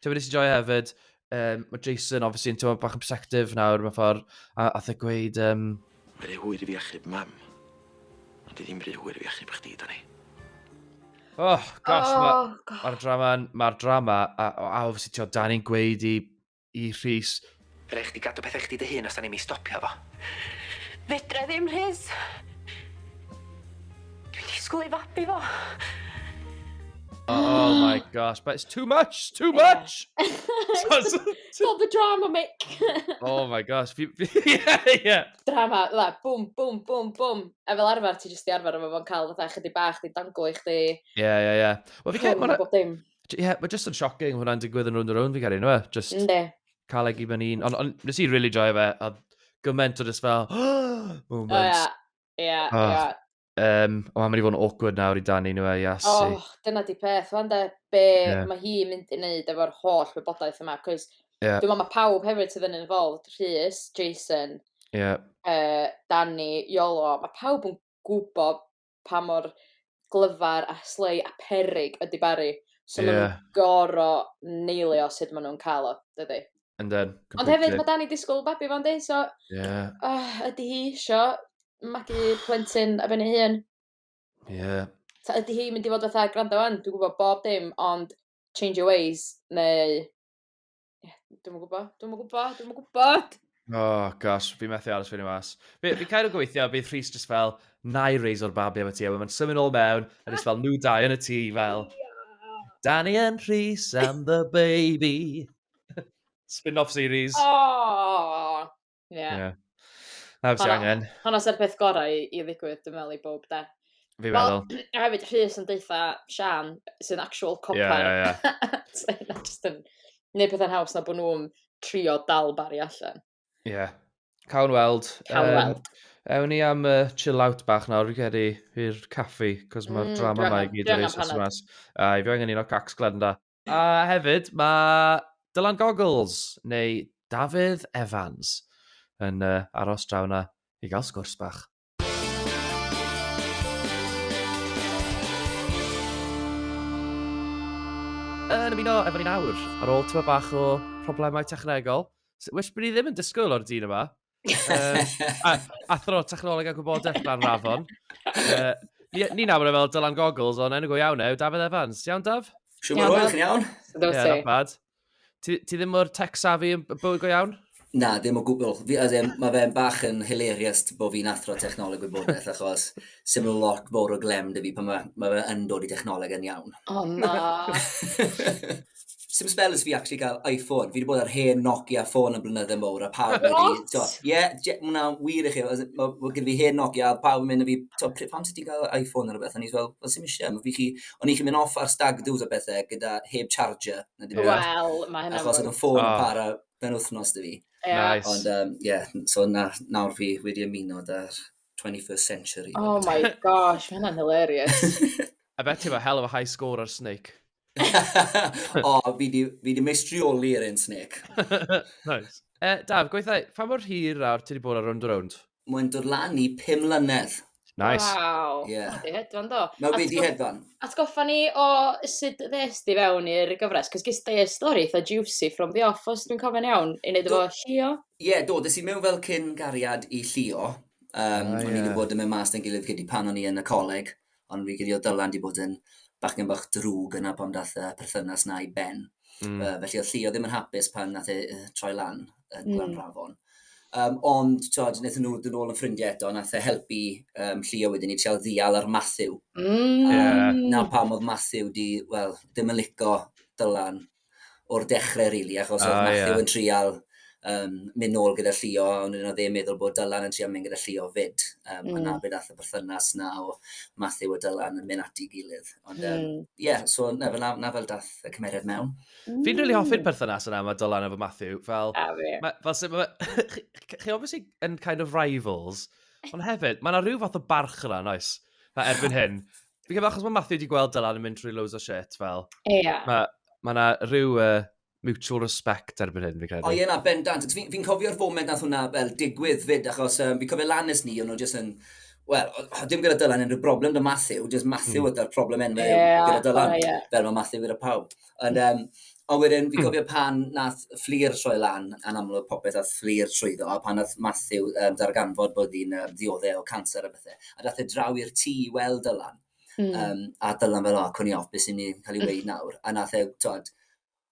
Tywed nes i joio hefyd, um, mae Jason, obviously, yn tywed bach yn protective nawr, mae ffordd, a ath e gweud... Um... Mae rhy hwyr i fi achub mam, ond i ddim rhy hwyr i fi achub chdi, Dani. Oh, gosh, oh, mae'r ma drama, mae'r drama, a, a obviously, ti'n Dani'n gweud i, i Rhys, Rhaid chdi gadw pethau chdi dy hun os da ni'm i stopio fo. Fedrai ddim, Rhys. Dwi'n disgwyl i fabi fo. Oh my gosh, but it's too much, too much! Stop the drama, Mick! oh my gosh, fi... yeah, yeah. Drama, la, bwm, bwm, bwm, bwm. A fel arfer, ti jyst i arfer efo fo'n cael fatha chydig bach, di danglo i chdi. Yeah, yeah, yeah. Wel, fi cael... Ie, mae jyst yn shocking hwnna'n digwydd yn rhwnd y rhwnd, fi cael ei, nhw e? Just... Ynddi. cael egi fy hun. Ond on, nes i really joio fe, a gymaint o just fel, moments. Oh, yeah. Yeah, oh. yeah. Um, o, mae'n mynd i fod yn awkward nawr i Dani nhw e, yes. Oh, dyna di peth, fan de, be yeah. mae hi mynd i wneud efo'r holl wybodaeth yma, cos yeah. dwi'n meddwl mae pawb hefyd sydd yn involved, Rhys, Jason, yeah. uh, Dani, Iolo, mae pawb yn gwybod pa mor glyfar a slei a peryg ydy Barry. So yeah. maen nhw'n goro neilio sut maen nhw'n cael o, dydy. And then, completely. Ond hefyd, mae Danny disgwyl babi fo'n di, so... Yeah. Oh, ydy hi isio magu plentyn a benni hun? Yeah. Ta ydy hi mynd i fod fatha, gwrando fan, dwi'n gwybod bob dim, ond change your ways, neu Ie, dwi'm yn gwybod, dwi'm yn gwybod, dwi'm yn gwybod! Oh, gosh, fi methu aros fyny mas. Fi, fi cael o gweithio, bydd Rhys just fel, na i reis o'r babi am y ti, a mae'n symud ôl mewn, a just fel, nhw dau yn y tŷ, fel, Danny and Rhys and the baby. Spin-off series. Oh! Ie. Yeah. Yeah. Na, beth angen. Hwna sy'r peth gorau i, i ddigwydd, dwi'n meddwl, i bob de. Fi meddwl. Well, a hefyd, Rhys yn deitha Sian, sy'n actual copper. Ie, ie, ie. So, yna jyst yn neud pethau'n haws na bod nhw'n trio dal bari allan. Ie. Yeah. Cawn weld. Cawn weld. Um, Ewn ni am uh, chill out bach nawr, fi'n credu, i'r caffi, cos mae'r mm, drama yma i gyd yn reis mas. A i fi angen un o cacs glen da. A hefyd, mae Dylan Goggles, neu Dafydd Evans, yn uh, aros draw na i gael sgwrs bach. Yn ymuno efo ni'n awr, ar ôl tyma bach o problemau technegol, which bydd ddim yn disgwyl o'r dyn yma, uh, athro technoleg a gwybodaeth rhan rafon. Uh, ni, ni nawr yn fel Dylan Goggles, ond enw go iawn e, yw Dafydd Evans. Iawn, Daf? Siw mor oed chi'n iawn? Ie, yeah, not bad. Ti, ti ddim o'r tech savvy yn bywyd go iawn? Na, ddim o gwbl. Mae fe'n bach yn hilarious bod fi'n athro technoleg gwybodaeth, achos sy'n mynd lot fawr o glem dy fi pan mae, mae fe yn dod i technoleg yn iawn. O oh, na. Sim spells fi actually gael iPhone. Fi wedi bod ar hen Nokia ffôn yn blynydde mowr, a pawb yn mynd i... Ie, mwna wir i chi. Mae gen fi hen Nokia, a pawb yn mynd i fi, to, pam sydd ti'n cael iPhone ar y beth? O'n i'n fel, fel sy'n eisiau. Mae fi chi, o'n i'n chi mynd off ar stag do's a bethau gyda heb charger. Wel, mae hynny'n... Achos oedd y ffôn yn ah. para ben wythnos dy fi. Nice. Ond, ie, so nawr fi wedi ymuno da'r 21st century. Oh my gosh, mae hynna'n hilarious. I bet you have a hell of a high score ar Snake. o, oh, fi di, fi di meistrioli ar un Snake. nice. Uh, Daf, gweithau, pa mor hir ar ti wedi bod ar Round Round? Mae'n dod lan i 5 mlynedd. Nice. Wow. Yeah. Mae hedfan do. Mae wedi hedfan. Atgoffa ni o sut ddes di fewn i'r gyfres, cos gys di stori eitha juicy from the off, os dwi'n cofio'n iawn, i wneud efo Llio. Ie, do, des i mewn fel cyn gariad i Llio. Um, oh, o'n i wedi bod yn mynd mas yn gilydd gyda pan o'n i yn y coleg, ond fi gyd o Dylan wedi bod yn bach yn bach drwg yna pan dath y perthynas na i ben. Mm. Uh, felly oedd Llio ddim yn hapus pan nath e uh, troi lan yn mm. Glan Rafon. Um, ond, tod, wnaethon nhw dyn ôl yn ffrindiau eto, nath e helpu um, Llio wedyn i treol ddial ar Matthew. Mm. Um, yeah. Na pam oedd Matthew di, wel, ddim yn lico Dylan o'r dechrau, really, achos oedd oh, Matthew yeah. yn trial um, mynd nôl gyda Llio, ond yn oedd e'n meddwl bod Dylan yn trial mynd gyda Llio fyd. Um, mm. Yna bydd all y berthynas na o Matthew a Dylan yn mynd ati gilydd. Ond, ie, mm. yeah, so na fel, na fel dath y cymeriad mewn. Mm. Fi'n rili hoffi'r perthynas yna mae Dylan efo Matthew. Fel, ah, ma, fel sef, ma, chi, chi obviously yn kind of rivals, ond hefyd, mae yna rhyw fath o barch yna, noes? Fe erbyn hyn, Fi'n credu achos mae Matthew wedi gweld Dylan yn mynd trwy loads o shit, fel. Ie. Yeah. Mae ma na rhyw uh, mutual respect erbyn hyn, fi'n credu. O ie na, bendant. Fi'n fi cofio'r foment nath hwnna fel digwydd fyd, achos um, fi'n cofio lan nes ni, o'n nhw jyst yn... Wel, ddim gyda Dylan unrhyw broblem da Matthew, jyst Matthew mm. yda'r problem enw yeah, gyda Dylan, oh, yeah. fel mae Matthew gyda pawb. Ond, um, ond wedyn, fi'n cofio pan nath fflir troi lan, yn amlwg popeth nath fflir trwyddo, a pan nath Matthew um, darganfod bod hi'n um, ddiodde o cancer a bethau, a dath e draw i'r tŷ i weld Dylan. Mm. Um, a Dylan fel, o, oh, cwn i off, beth sy'n ni'n cael ei wneud hmm. nawr. A nath e, tod,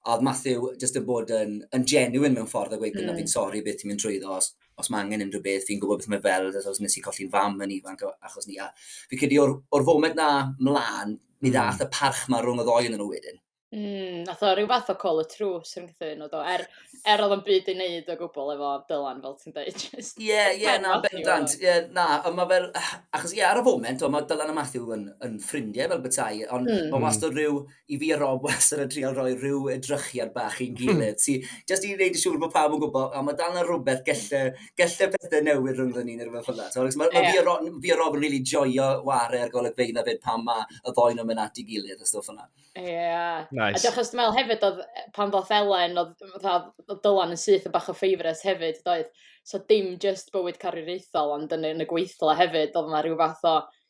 a oedd Matthew jyst yn bod yn, yn genuine mewn ffordd a gweud, mm. fi'n sori beth ti'n mynd trwyddo, os, os mae angen unrhyw beth, fi'n gwybod beth mae fel, os nes i colli'n fam yn ifanc achos ni. A fi'n credu o'r, or foment na mlaen, Mi ddaeth y parch ma rhwng y ddoi yn nhw wedyn. Mm, nath o rhyw fath o call y trws yn gyda nhw do, er, er oedd o'n byd i wneud o gwbl efo Dylan fel ti'n dweud. Ie, ie, na, bendant, ie, na, ond mae fel, achos ie, ar y foment, mae Dylan a Matthew yn, yn ffrindiau fel bethau, ond mm. mae hmm. wastad rhyw, i fi a Rob wastad yn trial rhoi rhyw edrychiad bach i'n gilydd, sy'n just i wneud yn siŵr bod pawb yn gwybod, a mae dal na rhywbeth gelle gallai pethau newid rhwng ni neu rhywbeth fel yna. Mae ma yeah. fi a Rob, fi a Rob yn really joio ware ar golygfeydd na fyd pan mae y ddoi nhw'n mynd at i gilydd a stwff yna. Ie. Yeah. Nice. A diolch os dwi'n meddwl hefyd, oedd, pan ddoth Elen, oedd Dylan yn syth yn bach o ffeifres hefyd, doedd. So dim just bywyd carwriaethol, ond yn, yn y gweithle hefyd, oedd yna rhyw fath o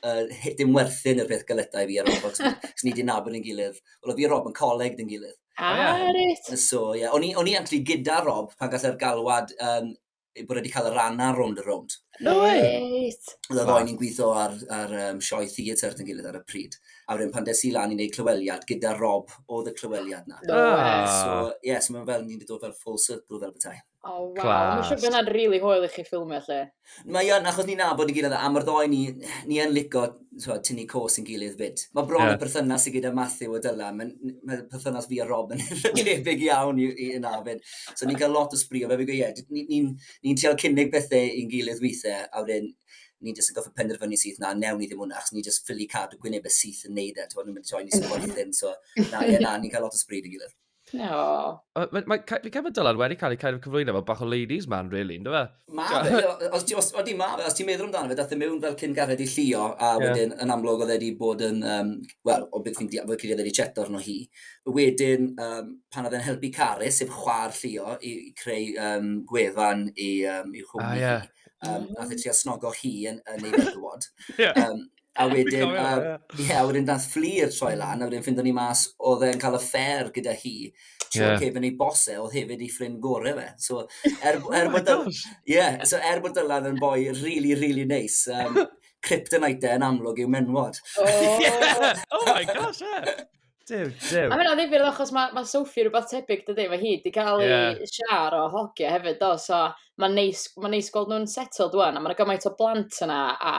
uh, dim werthin y peth galetau i fi ar Rob, cos ni wedi nabod yn gilydd. Wel, o fi a Rob yn coleg yn gilydd. Ah, oh, reit. So, ie. Yeah. O'n i actually gyda Rob pan gallai'r galwad um, bod wedi cael y ran ar rownd y rownd. No way! Oedd y ddoen ni'n gweithio ar, ar um, sioe theatr yn gilydd ar y pryd. A wedyn pan des i lan i wneud clyweliad gyda Rob oedd y clyweliad na. No way! So, ie, yeah, so mae'n fel ni'n dod fel full circle fel bethau. O, oh, waw. Mae'n siŵr bod hwnna'n rili hwyl i chi ffilmio lle. Mae yn, achos ni'n nabod i gilydd, a mae'r ddoi ni, ni yn lico so, tynnu cos yn gilydd fyd. Mae bron yeah. y perthynas i gyda Matthew a Dylan, mae'n ma perthynas fi a Rob yn debyg iawn i, i yna fyd. So ni'n cael lot o sbrio, fe fi'n gweud, ie, ni'n ni, ni, ni trial cynnig bethau i'n gilydd weithiau, a wedyn ni jyst yn goffa penderfynu syth na, newn ni ddim hwnna, achos ni jyst ffili cadw gwynebau syth yn neud e, ti'n bod, nhw'n mynd i troi ni sy'n gwaith ddim, so na, ie, na, ni'n cael lot o sbryd yn gilydd. No. Mae, mae, fi'n cael bod Dylan wedi cael ei cael ei cyflwyno fel bach o ladies man, really, ynddo fe? Ma fe, os ti, os, odi ma fe, os ti'n meddwl amdano fe, dath e mewn fel cyn gared i llio, a yeah. wedyn yn amlwg oedd wedi bod yn, um, wel, o beth fi'n diafod, oedd wedi cheto arno hi. Wedyn, um, pan oedd e'n helpu Carys, sef chwar llio, i, i creu um, gwefan i, um, i chwmni ah, yeah. hi, um, nath e trio snogo hi yn, yn ei fedwod. yeah. um, A wedyn, uh, yeah, a wedyn dath fflir troi hmm. lan, a wedyn ffindo ni mas oedd e'n cael y ffer gyda hi. Tro yeah. cefn ei bose, oedd hefyd ei ffrind gore fe. So, er, oh er, bod, yeah, so, er bod Dylan yn boi really, really nice, um, kryptonite yn amlwg i'w menwod. Oh, oh my gosh, yeah. Dew, dew. A hynna ddifir achos mae ma Sophie rhywbeth tebyg dydy, mae hi wedi cael ei yeah. siar o hogia hefyd do, so mae'n neis, ma neis gweld nhw'n settled dwan, a mae'n gymaint o blant yna, a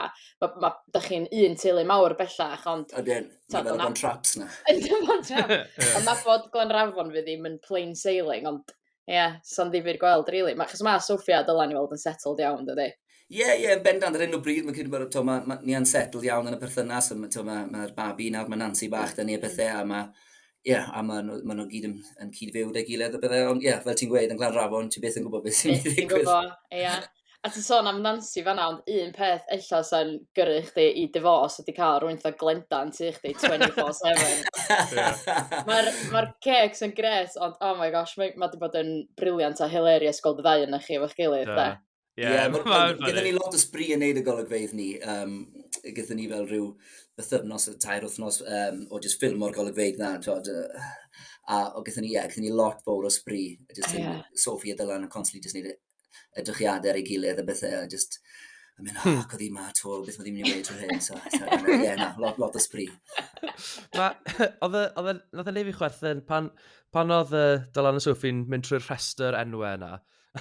ma, ma, da chi'n un teulu mawr bellach, ond... Ydyn, mae fel o'n traps na. Ydyn, o'n traps. Ond na bod Glenrafon fi ddim yn plain sailing, ond Ie, yeah, so'n ddifur gweld, really. Ma, chos mae Sofia dylan i weld yn settled iawn, dydy? Ie, yeah, ie, yeah, yn bendant ar hyn o bryd, mae'n credu bod ma, ma, ni yn settled iawn yn y perthynas, mae'r ma, ma babi nawr, mae Nancy bach dyn ni a bethau, a mae ie, yeah, a maen nhw, ma nhw gyd yn, yn cyd-fyw da gilydd a bethau, ond ie, yeah, fel ti'n gweud, yn Glanrafon, ti beth yn gwybod beth sy'n mynd i ddigwydd. Ti'n gwybod, ie. Yeah. A ti'n sôn am Nancy fanna ond un peth ella sa'n gyrru chdi i divorce ydi ca'l rywun fatha Glenda yn tŷ chdi twenty four seven. Ma'r ma'r cêcs yn grêt ond oh my gosh mae ma' 'di bod yn briliant a hilarious gweld y ddau onoch chi efo'ch gilydd 'de. Ie, Ie, ma' ma' ma'n gyda ni lot o sbri yn neud y golygfeydd ni, um, gyda ni fel rhyw bythyfnos, tair wythnos um, o jyst ffilm o'r golygfeydd na, twod, uh, a o gyda ni, ie, gyda ni lot fawr o sbri, jyst yeah. Sophie a Dylan yn constantly jyst neud it edrychiadau ar ei gilydd a bethau, a just yn mynd, hmm. oh, cod i ma to, beth mae ddim yn ei wneud trwy hyn, so, so yeah, na, lot, lot o spri. Oedd e, oedd e, nath e neud fi chwerthin, pan, pan oedd uh, Dylan a Sophie'n mynd trwy'r rhestr enwau yna,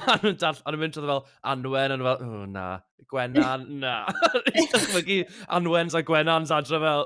a nhw'n dall, a nhw'n mynd trwy fel Anwen, a nhw'n fel, oh, na, Gwenan, na. Dwi'n dychmygu Anwen's a Gwenan's adre fel,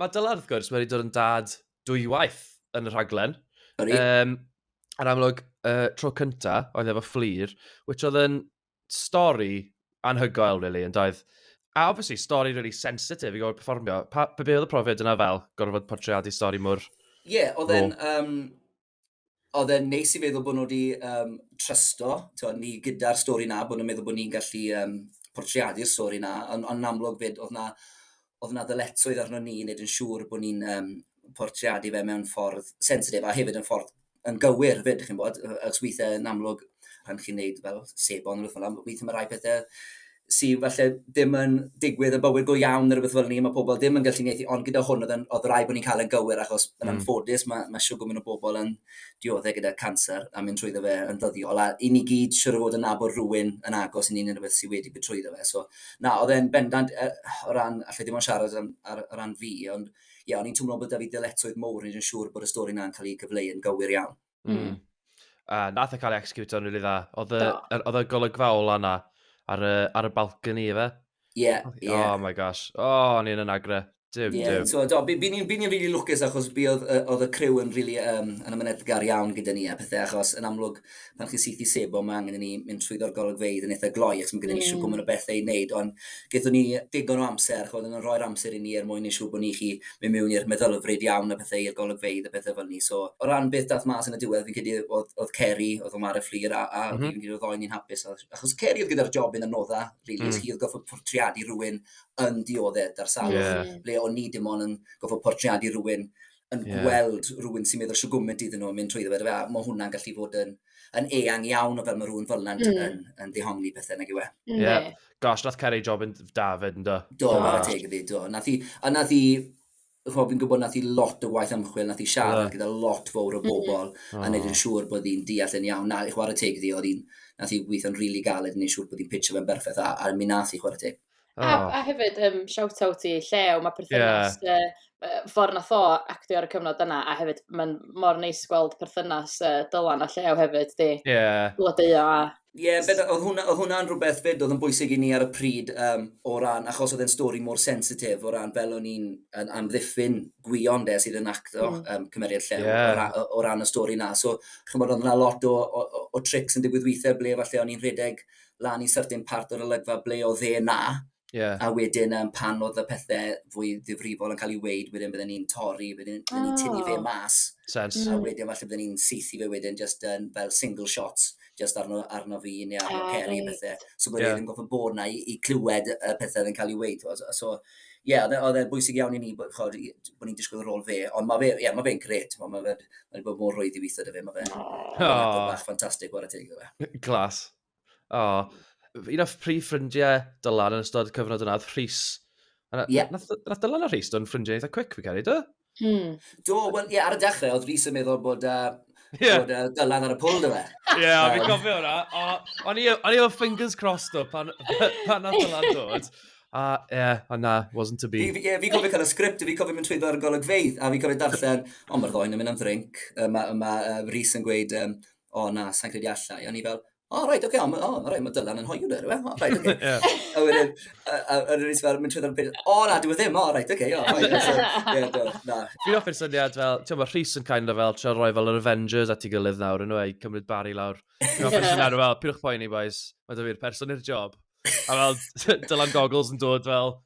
Mae Dylan, wrth gwrs, wedi dod yn dad dwywaith yn y rhaglen. Yr um, yn amlwg, uh, tro cynta, oedd efo fflir, which oedd yn stori anhygoel, really, yn doedd. A obviously, stori really sensitive i gorfod performio. Pa, be oedd y profiad yna fel, gorfod portreadu stori mor... Ie, yeah, oedd e'n... Um, oedd e'n neis i feddwl bod nhw wedi um, trysto, tywed, ni gyda'r stori na, bod nhw'n meddwl bod ni'n gallu um, portreadu'r stori na, ond on amlwg fyd, oedd na, oedd na ddyletswydd arno ni wneud yn siŵr bod ni'n um, portreadu fe mewn ffordd sensitif, a hefyd yn ffordd yn gywir fyd, chi'n bod, achos weithiau yn amlwg, rhan chi'n neud fel sebon, fel, weithiau mae rhai pethau sy falle ddim yn digwydd yn bywyd go iawn neu rhywbeth fel ni, mae pobl ddim yn gallu uniaethu, ond gyda hwn oedd, oedd rai bod ni'n cael yn gywir achos yn mm. anffodus mae, mae siw gwmyn o bobl yn dioddau gyda cancer a mynd trwyddo fe yn ddyddiol a i ni gyd siwr o fod yn nabod rhywun yn agos i ni'n rhywbeth sydd wedi bod trwyddo fe. So, na, oedd e'n bendant uh, o ran, allai ddim ond siarad ar, ar, ar ran fi, ond ie, yeah, o'n i'n twmlo bod da fi dyletswydd mowr, ni'n siŵr bod y stori na'n cael ei gyfleu yn gywir iawn. Mm. Uh, nath e cael ei execute o'n rili dda. Oedd y golygfaol yna ar, ar y balcony efe. Ie, ie. Oh my gosh. O, oh, ni'n yn agre. Dim, yeah, dim. So, do, by, by ni'n ni really lwcus achos by oedd, oedd y criw yn really, um, yn ymwneudgar iawn gyda ni a pethau achos yn amlwg pan chi'n syth i sebo mae angen i ni mynd trwy ddorgol y gweidd yn eitha gloi achos mae gyda ni mm. siw gwmwn o bethau i wneud ond Gaethon ni digon o amser, ch'mod, odd e'n rhoi'r amser i ni er mwyn neu' siŵr bo' ni 'llu myn' mewn i'r meddylfryd iawn a pethe i'r golygfeydd a pethe fel 'ny so o ran beth dath mas yn y diwedd fi'n credu odd odd Ceri odd o'n ware Fflur a a fi'n credu odd y ddou o ni'n hapus odd achos Ceri odd gyda'r job yn anodda rili achos hi odd goffod portreadu rywun yn dioddef 'da'r salwch ble o'n ni dim on' yn goffod portreadu rywun yn yeah. gweld rhywun sy'n meddwl siwgwmynt iddyn nhw yn mynd trwy ddweud, a mae hwnna'n gallu bod yn, yn eang iawn o fel mae rhywun fel yna'n mm. yn, yn ddihongli pethau nag yw e. Mm. Ie. Yeah. Gosh, nath Ceri job yn David yn do. Do, oh. teg i fi, do. Nath i, a nath i, chwa, fi'n gwybod nath i lot o waith ymchwil, nath i siarad yeah. gyda lot fawr o mm. bobl, mm. a wneud yn siŵr bod hi'n deall yn iawn. Na, i chwarae teg iddi, oedd hi'n, nath i weithio'n rili really galed yn ei siŵr bod hi'n pitch fe'n berffaith, a, a mi nath i chwarae teg. A, oh. a hefyd, um, shout-out i Llew, mae perthynas yeah. uh, ffordd na fo actio ar y cyfnod yna, a hefyd mae'n mor neis gweld perthynas uh, Dylan a Llew hefyd, di. Ie. Yeah. Blodeuo a... Ie, yeah, beth, oedd hwnna, oedd hwnna'n rhywbeth fyd oedd yn bwysig i ni ar y pryd um, o ran, achos oedd e'n stori mor sensitif o ran fel o'n i'n amddiffyn gwion de sydd yn acto mm. um, cymeriad llew yeah. o, ran, o ran y stori na. So, chymod, oedd yna lot o, o, o, o trics yn digwydd weithiau ble falle o'n i'n rhedeg lan i syrtyn part o'r olygfa ble oedd e na, yeah. a wedyn um, pan oedd y pethau fwy ddifrifol yn cael ei weid, wedyn bydden ni'n torri, wedyn bydden ni'n tynnu fe ah. mas, Sense. a wedyn falle bydden ni'n seithi fe wedyn just yn fel single shots, just arno, arno fi neu arno oh, Ceri right. pethau. So bod yeah. e'n goffa bod na i, i clywed y pethau yn cael ei weid. So, ie, yeah, oedd e'n e bwysig iawn i ni bod, chod, bod ni'n disgwyl rôl fe, ond mae fe, yeah, ma fe'n gret, mae fe, wedi bod mor rwydd i weithio dy fe, mae fe'n oh. bach ffantastig o'r ategol. Glas. O, un o'r prif ffrindiau Dylan yn ystod cyfnod yna, oedd Rhys. Yeah. Nath, nath Dylan a Rhys, do'n ffrindiau eitha quick, fi cael ei do? Hmm. Do, wel, ie, ar y dechrau, oedd Rhys yn meddwl bod, uh, yeah. bod uh, Dylan ar y pwl, dwi fe. Ie, yeah, um, fi'n cofio hwnna. O'n i efo fingers crossed o pan, pan nath Dylan dod. A, ie, yeah, a na, wasn't to be. Fi, yeah, fi cofio cael y sgript, fi cofio mynd trwyddo ar y golygfeidd, a fi cofio darllen, o, mae'r ddoen yn mynd am ddrink, mae ma, uh, Rhys yn gweud, um, o na, sa'n credu allai. O'n i fel, o, oh, rhaid, oce, okay, o, oh, rhaid, mae Dylan yn hoiw dweud, o, rhaid, oce. A wedyn, a wedyn nes fel, mynd trwy ddyn nhw'n o, na, dwi'n e ddim, o, rhaid, oce, o, rhaid, o, na. Fi'n offi'r syniad fel, ti'n bod, Rhys yn kind of fel, tra roi fel yr Avengers at ei gilydd nawr, yn o'i cymryd bari lawr. Fi'n offi'r syniad fel, pyrwch poeni, boys, mae dy fi'r person i'r job. A fel, Dylan Goggles yn dod fel,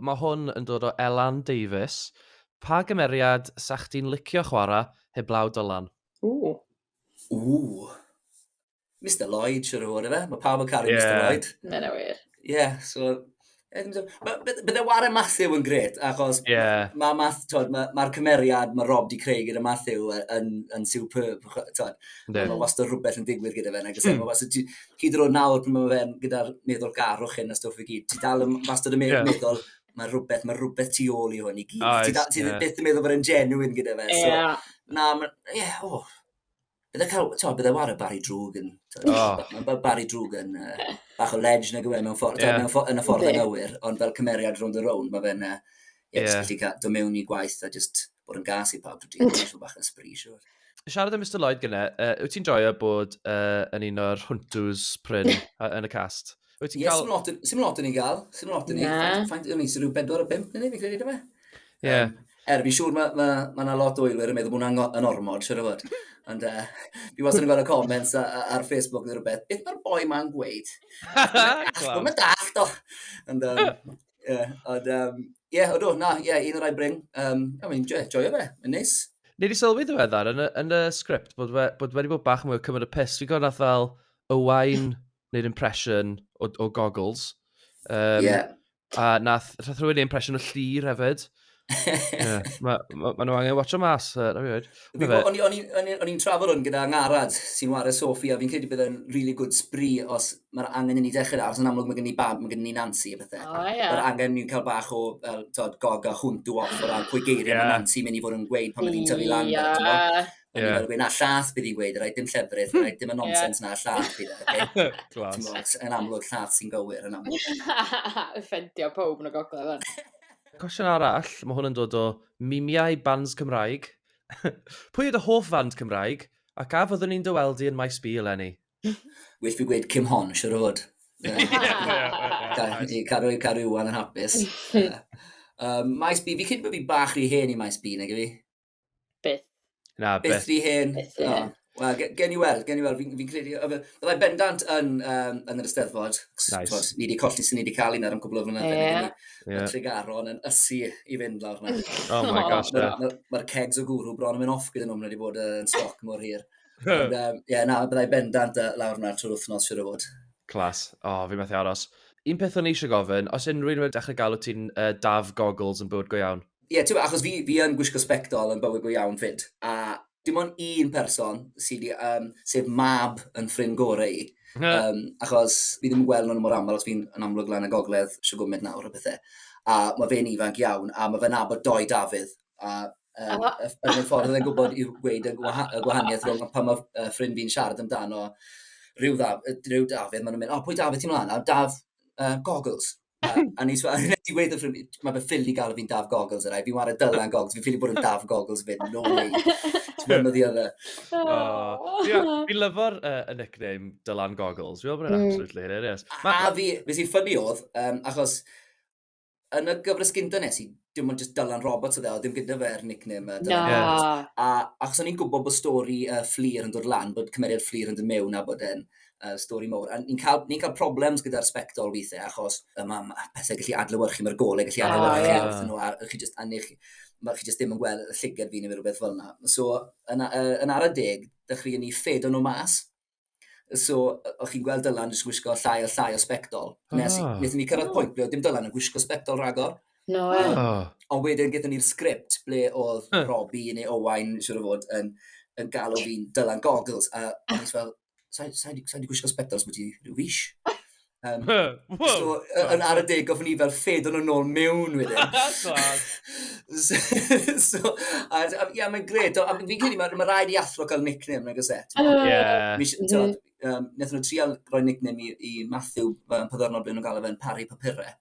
Mae hwn yn dod o Elan Davies. Pa gymeriad 'sa chdi'n licio chwarae heblaw Dylan? Ww. Ww. Mister Lloyd, siwr o fod, efe? Mae pawb yn caru yeah. Mister Lloyd. Mae'n yna wir. Ie, yeah, so... Bydde Warren Matthew yn gret, achos yeah. mae ma, ma, ma, ma cymeriad mae Rob di creu gyda Matthew yn, yn superb. Mae wastad rhywbeth yn digwydd gyda fe. Mae wastad, hyd yn oed nawr pan mae fe'n gyda'r meddwlgarwch hyn a stwff i gyd, ti dal yn wastad yn meddwl, yeah. mae rhywbeth, mae rhywbeth tu ôl i hwn i gyd. Oes, ti, da, ti yeah. byth yn meddwl bod e'n genuine gyda fe. So, yeah. Na, mae'n, ie, yeah, o. Oh. Bydde cael, to, bydde war y Barry Drwg yn, oh. mae Barry Drwg yn uh, bach o ledge nag yw e mewn ffordd, yeah. mewn ffordd, yn y ffordd yn anghywir, ond fel cymeriad rhwng y rown, mae fe'n, uh, yeah, yeah. just gallu cael, do mewn i gwaith a just, bod yn gas i pawb drwy dydd, rhyw bach yn sbri, siwr. Siarad am Mr Lloyd gyne, uh, wyt ti'n joio bod uh, yn un o'r hwntws pryn yn y cast? Wyt ti'n cael... Sym lot yn ei gael, sym lot yn ei. Faint yn ei, sy'n rhyw bedwar o bimp yn ei, fi'n credu, dyma? Ie. Er, fi'n siŵr mae yna ma, ma lot o eilwyr yn meddwl bod hwnna'n yn ormod, siwr o fod. Ond uh, fi wastad yn gweld y comments ar Facebook neu rhywbeth, beth mae'r boi ma'n gweud? Mae'n daft o. Ond, um, Ie, yeah, ond, um, yeah, odw, na, ie, yeah, un o'r rhai brin. Um, I mean, joio, joio fe, yn neis. Ni wedi sylwi ddiweddar yn y, yn y sgript bod, we, bod wedi bod bach mwy o cymryd y pus. Fi'n gwybod nath fel y wain neu'r impression o, o goggles. Um, yeah. A nath, nath rhywun ei impression o llir hefyd. yeah, Mae ma, ma nhw angen watch o mas, uh, na fi O'n i'n trafod hwn gyda Ngarad sy'n wario Sophie, a fi'n credu bydd yn really good spree os mae'r angen i ni dechrau ar, yn amlwg mae gen i bab, mae gen i Nancy a bethau. Oh, yeah. Mae'r angen ni'n cael bach o uh, tod, gog a hwnt o off o ran pwy geiriau yeah. mae Nancy mynd i fod yn gweud pan mae hi'n tyfu lan. Yeah. O'n yeah. i'n na llath bydd hi'n gweud, rhaid dim llefrith, rhaid dim y nonsens yeah. na llath bydd e. Okay? Glas. Yn amlwg llath sy'n gywir, yn amlwg. Ffendio pob yn y gogledd fan. Cwestiwn arall, mae hwn yn dod o Mimiau Bands Cymraeg. Pwy yw dy hoff fand Cymraeg, ac a fyddwn ni'n dy weld di yn Maes B eleni? Well fi gweud Kim Hon, siwr o fod. Caru, caru Iwan yn hapus. Maes B, fi'n credu bod fi bach rhy hen i Maes B, nag i fi? Byth. Na, byth. Byth fi hen. Byth fi hen. Wel, gen i weld, gen i weld, fi'n fi credu, byddai bendant yn, um, yn yr ysteddfod. Nice. Twas, ni wedi colli sy'n ni wedi cael un ar yn cwbl o fyna. Yeah. Yeah. Tregaron yn ysu i fynd lawr na. oh my gosh. Mae'r ma, ma kegs o gwrw bron yn mynd off gyda nhw, mae wedi bod yn stoc mor hir. Ond, um, yeah, na, byddai bendant lawr na trwy'r wythnos, siwr o fod. Clas. O, oh, fi methu aros. Un peth o'n eisiau gofyn, os unrhyw un wedi dechrau galw ti'n uh, daf goggles yn bywyd go iawn? Ie, yeah, ti'n achos fi, fi yn gwisgo sbectol yn bywyd go iawn fyd, a dim ond un person sydd wedi, um, sef mab yn ffrind gorau i, um, achos fi ddim yn gweld nhw'n mor aml, os fi'n yn amlwg lan y gogledd, sio gwmned nawr o bethau. A mae fe'n ifanc iawn, a mae fe'n abod doi Dafydd, a um, oh. yn y ffordd yn gwybod i'w gweud y, gwaha y gwahaniaeth rhwng pan mae uh, ffrind fi'n siarad amdano rhyw, ddaf, rhyw Dafydd, maen nhw'n mynd, o, oh, pwy Dafydd ti'n mlaen? A Daf uh, Goggles. A, a nes i wedi wrth i, mae fe ffili gael fi'n daf goggles yna, fi'n wario dylan goggles, fi'n ffili bod yn daf goggles fyd, no way. Ti'n mynd o ddiodda. Fi'n lyfo'r uh, nickname dylan goggles, fi'n meddwl bod yn mm. absolutely hilarious. A fi, beth sy'n ffynnu oedd, um, achos yn y gyfres gynta nes i dim ond just Dylan Roberts oedd e, oedd dim gyda fe'r nickname uh, Dylan no. Roberts. A achos o'n i'n gwybod bod stori uh, fflir yn dod lan, bod cymeriad fflir yn dod mewn a bod e'n uh, stori mowr. A ni'n cael, ni cael problems gyda'r sbectol weithiau achos um, am pethau gallu adlywyrchu, mae'r golau gallu ah, adlywyrchu oh, yeah. nhw a chi just annu chi mae chi jyst ddim yn gweld y llygad fi neu rhywbeth fel yna. So, yn, uh, yn ar y deg, dechreuon ni ffedo nhw mas, So, o'ch chi'n gweld Dylan yn gwisgo llai a llai o sbectol. Oh. Nes, ah. nes i ni cyrraedd oh. pwynt ble oedd dim Dylan yn gwisgo sbectol rhagor. No, e. Oh. Ond wedyn gyda ni'r sgript ble oedd huh. Robbie neu Owain, siwr o fod, yn, yn galw fi'n Dylan Goggles. A o'n i'n fel, sa'n sa, sa, sa gwisgo sbectol os bod ti rhyw fis? Um, Whoa, so, yn ar y deg gofyn i fel ffed o'n ôl mewn wedyn. so, so, a, a, ia, mae'n gred. A fi'n credu, mae ma rhaid i athro cael nickname, nag ose. Yeah. Um, Nethon nhw trial roi nickname i, i Matthew, pan ddornod blyn nhw'n gael efo'n Parry Papure.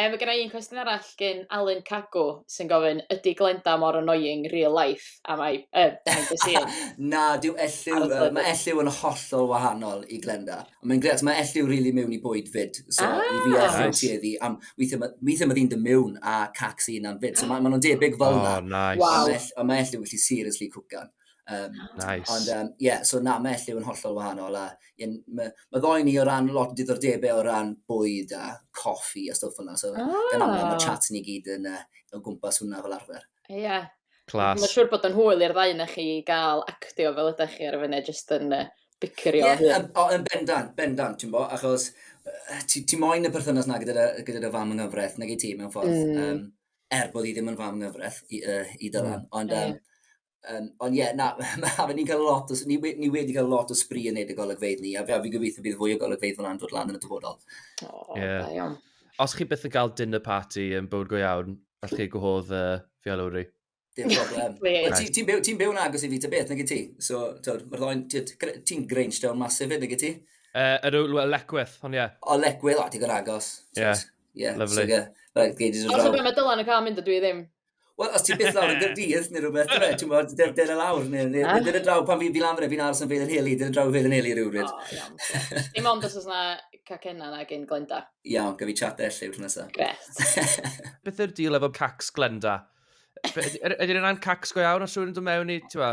Yy ma' gynna i un cwestiwn arall gin Alun Cagw sy'n gofyn ydy Glenda mor annoying real life am I yy behind the scenes? Na, dyw Elliw, Ar y yy, mae Elliw yn hollol wahanol i Glenda. Ond mae'n grêt, mae Elliw rili mewn i bwyd 'fyd. So Ah! i fi a Elliw Nice. tueddu am... Weithiau ma' weithiau ma' ddi'n dod mewn a cacs ei hunan 'fyd. So ma' ma' nhw'n debyg fel 'na. O, nice. Waw. Ond mae Ell- ond mae Elliw yn gallu seriously cwcan. Um, nice. Ond um, yeah, so na, mae Elliw yn hollol wahanol. A, yeah, mae ma ddoi ni o ran lot o diddordebau o ran bwyd a coffi a stwff yna. So, oh. gan amlwg mae ah. chat ni gyd yn uh, o gwmpas hwnna fel arfer. Ie. Yeah. Clas. Mae'n siŵr bod yn hwyl i'r ddau na chi gael actio fel ydych chi ar y funud, jyst yn uh, bicyrio. Ie, yeah, yn, yn bendant, bendant, ti'n bo, achos ti, ti moyn y perthynas na gyda'r gyda, gyda fam yng nghyfraith, nag i ti mewn ffordd. Mm. Um, er bod hi ddim yn fam nghyfraith i, uh, i Dylan. Mm. Ond, um, um, ond ie, yeah, na, mae ni'n cael lot, o, ni, ni wedi cael lot o sbri yn neud y golygfeidd ni, a fi gobeithio bydd fwy o golygfeidd fel dod lan yn y dyfodol. O, oh, yeah. da iawn. Os chi byth yn cael dinner party yn bywyd go iawn, allwch chi gwahodd uh, Fialwri. Dim problem. Ti'n ti, ti byw, ti byw yn agos i fi ta beth, nag i ti? So, mae'r ddoen, ti'n Grange Down masif fyd, nag i ti? Uh, yr yw Lecwyth, ond ie. Yeah. O, Lecwyth, o, ti'n agos. Ie, yeah. yeah, lovely. So, right, geidies yn rhaw. Os ydw mae Dylan yn cael mynd, ydw i ddim. Wel, os ti'n byth lawr yn gyrdydd, neu rhywbeth, dwi, ti'n bod, dyr y lawr, neu dyn y draw, pan fi fi lan fyna, fi'n aros yn fedd yn heli, dyn y draw fedd yn heli rhywbryd. O, iawn. Dim ond os oes yna cacenna na gen Glenda. Iawn, gyfi chat lle yw'r nesaf. Gret. Beth yw'r deal efo cacs Glenda? Ydy yna yn cacs go iawn os yw'n dod mewn i, ti'n fa?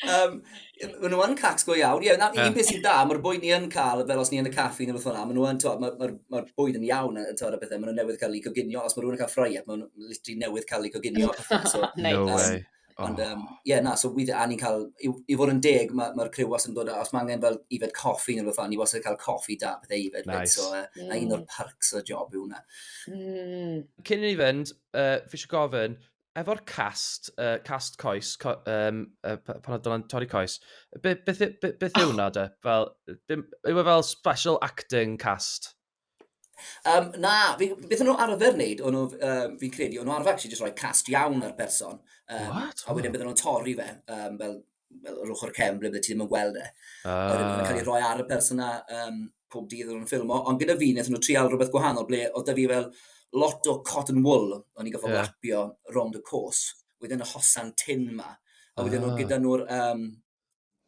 Mae nhw yn cacs go iawn. Ie, na, un peth sy'n da, mae'r bwyd ni yn cael, fel os ni yn y caffi neu beth o'na, mae nhw yn, ti'n mae'r bwyd yn iawn, a ti'n bethau, mae nhw newydd cael eu coginio, os mae rhywun yn cael ffraiad, mae nhw literally newydd cael eu coginio. No way. Oh. Ond, um, ie, na, so weithio, a ni'n cael, i, i fod yn deg, mae'r ma, ma criw was yn dod, os mae angen fel ifed coffi neu beth ni was yn cael coffi da, pethau ifed, nice. so, uh, mm. na un o'r perks o job yw hwnna. Mm. Cyn i ni fynd, uh, fi eisiau gofyn, efo'r cast, uh, cast coes, co, um, uh, pan oedd Dylan Torri Coes, beth be, be, be, be yw hwnna, de? Fel, yw e fel special acting cast? Um, na, fi, beth o'n nhw arfer wneud, o'n nhw, um, fi'n credu, o'n nhw arfer actually just rhoi cast iawn ar berson. Um, What? A wedyn bydden nhw'n torri fe, um, fel, fel yr ochr cem, ble bydde ti ddim yn gweld e. Uh. A wedyn nhw'n cael ei ah. rhoi ar y person na um, pob dydd o'n nhw'n ffilmo. Ond gyda fi, nes nhw trial rhywbeth gwahanol, ble oedd da fi fel lot o cotton wool, o'n i'n gofod yeah. lapio rond y cos, wedyn y hosan tin ma. A wedyn uh. Ah. gyda nhw'r um,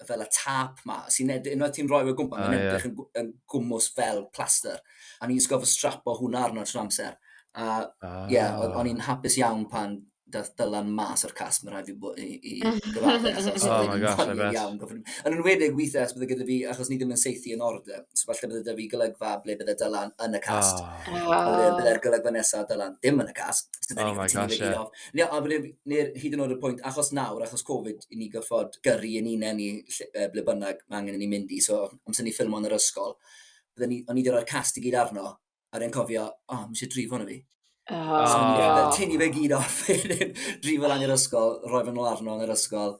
fel y tap ma, sy'n edrych, unwaith ti'n rhoi fe gwmpa, mae'n edrych yn, yn gwmwys fel plaster. A ni'n sgof y strap o hwnna arno trwy amser. A ah. yeah, o'n i'n hapus iawn pan dath dylan mas o'r casg, mae'n rhaid fi i, i gyfadde, achos oh my gosh, I bet. Iawn, yn enwedig weithiau os bydde gyda fi, achos ni ddim yn seithi yn order, so falle bydde da fi golygfa ble bydde dylan yn y casg. Oh. Ah. Bydde'r golygfa nesaf dylan ddim yn y casg, So oh my gosh, yeah. Ie, a wedyn, neu'r hyd yn oed y pwynt, achos nawr, achos Covid, i ni gyffod gyrru yn unen ni lle, ble bynnag mae angen i ni mynd i, so amser ni ffilm o'n yr ysgol, bydden ni, o'n i ddod o'r cast i gyd arno, a rwy'n cofio, o, oh, mis i drifo na fi. Oh, so, oh. Tynnu fe gyd off, drifo lan i'r ysgol, rhoi fe'n ôl arno yn yr ysgol,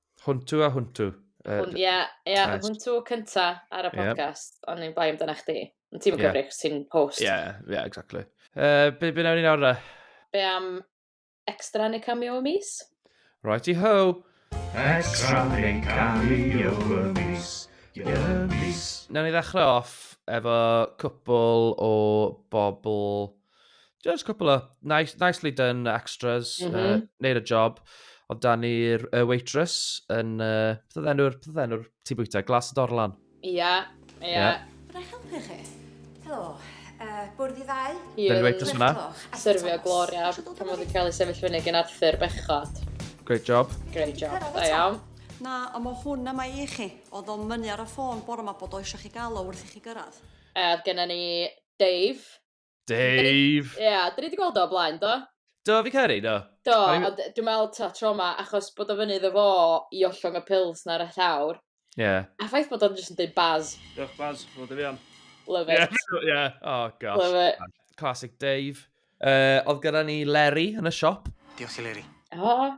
Hwntw a hwntw. Ie, yeah, yeah, hwntw cynta ar y podcast, yeah. ond ni'n bai amdana chdi. Ond ti'n yeah. cyfri, chos ti'n host. Ie, yeah, ie, yeah, exactly. Uh, be, be nawr ni nawr da? Be am extra neu cameo y mis? Righty ho! Extra neu cameo y mis. Nawr ni ddechrau off efo cwpl o bobl Just a couple of nice, nicely done extras, mm -hmm. uh, neud y job. Oedd dan ni'r uh, waitress yn, uh, beth oedd enw'r, beth oedd enw'r ti bwyta, glas y dorlan? Ia, yeah, ia. Yeah. Rhaid helpu chi? Helo, uh, bwrdd i ddau? Ie. Dyna'r waitress yna. Serfio Gloria, pan oedd yn cael ei sefyll fyny gen Arthur bechod. Great job. Great job, da iawn. Na, ond mae hwn yma i chi. Oedd o'n mynnu ar y ffôn bore yma bod o eisiau chi gael o wrth i chi gyrraedd. Oedd gennym ni Dave, Dave! Ie, yeah, dyn ni wedi gweld o blaen, do? Do, fi cael ei, do. Do, ond dwi'n meddwl ta tro ma, achos bod o fyny iddo fo i ollwng y pils na'r y llawr. Ie. Yeah. A ffaith bod o'n jyst yn dweud baz. Diolch baz, fod y fi am. Love it. Yeah, yeah. oh gosh. Love it. Classic Dave. Uh, oedd gyda ni Leri yn y siop. Diolch i Leri. O, oh,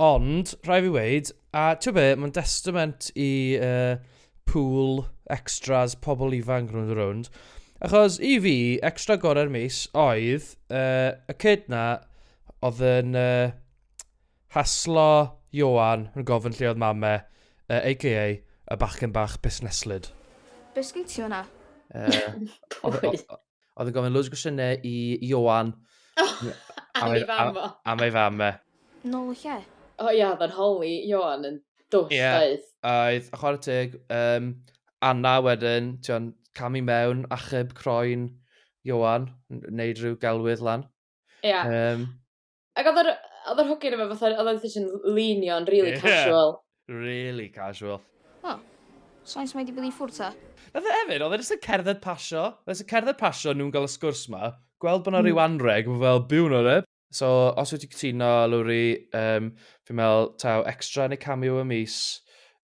Ond, rhaid fi weud, a ti'n be, mae'n destament i uh, pool extras pobl ifanc rhwng y rownd. Achos i fi, extra gorau'r mis oedd uh, y cyd na oedd yn uh, haslo Johan yn gofyn lle oedd mame, uh, a.k.a. y bachgen bach busneslyd. Beth sgyn ti o'na? Uh, oedd yn gofyn loads o gwestiynau i Ioan. Oh, am ei fam o. Am ei fam e. Nôl y lle. O oh, ia, oedd yn holi Ioan yn dwll, yeah, oedd. Oedd, a chwarae teg, um, Anna wedyn, ti'n cam i mewn, achub croen Ioan, wneud rhyw gelwydd lan. Ia. Yeah. Um, Ac oedd yr, oedd yr hogyn efo fatha, oedd oedd yn leanio'n really yeah. casual. Really casual. O, oh, sain sy'n wedi bod i ffwrdd ta? Oedd e hefyd, oedd e jyst yn cerdded pasio. Oedd e'n cerdded pasio nhw'n gael y sgwrs ma. Gweld bod yna mm. rhyw anreg, mae fel byw nhw'n rhaid. So, os wyt ti'n cytuno, Lwri, um, fi'n meddwl, taw extra neu cameo y mis,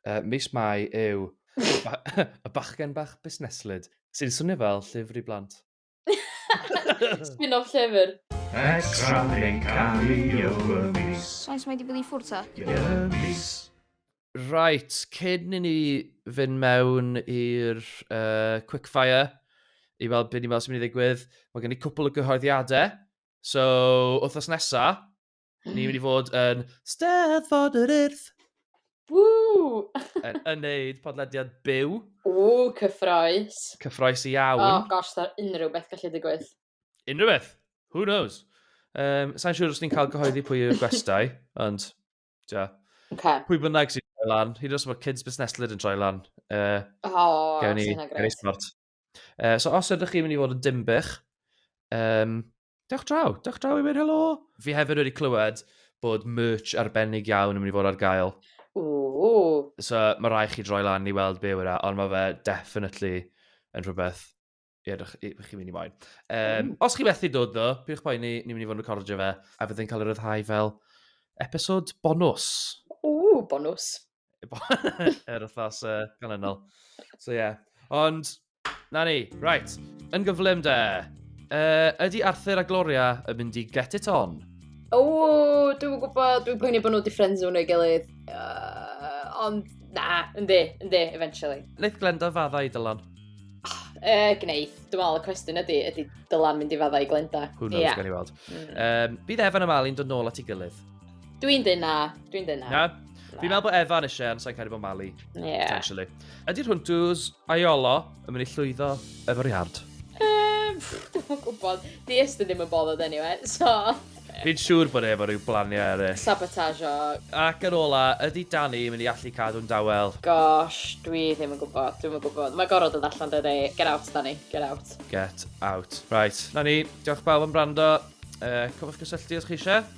uh, mis mai yw y bachgen bach busneslyd, sy'n swnio fel llyfr i blant. Spin off llyfr. Extra yn cael ei o'r mis. Faint mae di bod i ffwrdd ta? I'r mis. Right, cyn i ni fynd mewn i'r uh, quickfire i weld beth ni'n meddwl sy'n mynd i ddigwydd, mae gen i cwpl o gyhoeddiadau. So, wythnos nesa, Ni'n mynd i fod yn Steddfod yr Urdd. Woo! yn, yn neud podlediad byw. Ww, cyffroes. Cyffroes i iawn. Oh gosh, da unrhyw beth gallu digwydd. Unrhyw beth. Who knows? Um, Sa'n siŵr os ni'n cael gyhoeddi pwy yw'r gwestau, ond... Ja. Okay. Pwy bynnag sy'n troi lan, hyd os mae kids busneslyd yn troi lan. Uh, oh, sy'n agres. Uh, so os ydych chi'n mynd i fod yn dimbych, um, Dewch draw, dewch draw i weud helo! Fi hefyd wedi clywed bod merch arbennig iawn yn mynd i fod ar gael. Ooh. So mae rai chi droi lan i weld be yw yna, e, ond mae fe definitely yn rhywbeth i edrych i chi mynd i moyn. Um, os chi methu dod ddo, pwyrwch boi ni, ni'n mynd i fod yn recordio fe, a byddai'n cael ei ryddhau fel episod bonus. Ooh, bonus. yr wythnos uh, ganlynol. So ie. Yeah. Ond, na ni, right. Yn gyflym de, uh, ydy Arthur a Gloria yn mynd i get it on? O, dwi'n gwybod, dwi'n poeni bod nhw wedi ffrends nhw'n ei gilydd. Uh, ond, na, yndi, yndi, eventually. Neith Glenda fadda i Dylan? Uh, ah, gneith. Dwi'n meddwl y cwestiwn ydy, ydy Dylan mynd i fadda i Glenda? Who knows, yeah. gan i weld. Mm. Um, bydd Evan a Malin dod nôl at ei gilydd. Dwi'n dyn na, dwi'n dyn na. Na? Fi'n meddwl bod Evan eisiau, ond sa'n cael ei bod Mali. Ie. Potentially. Ydy'r hwntws aiolo yn mynd i llwyddo efo'r iard? Ehm, dwi'n gwybod. Di Estyn ddim yn bothered anyway, so... Fi'n siŵr bod e efo rhyw blaniau eraill. Sabotage o... Ac yn ola, ydy Danny yn mynd i allu cadw'n dawel? Gosh, dwi ddim yn gwybod, dwi'n yn gwybod. Mae gorfod yn allan dydy. Get out, Danny, get out. Get out. Right, na ni, diolch bawb am brando. Uh, cofwch gysylltu os chi eisiau.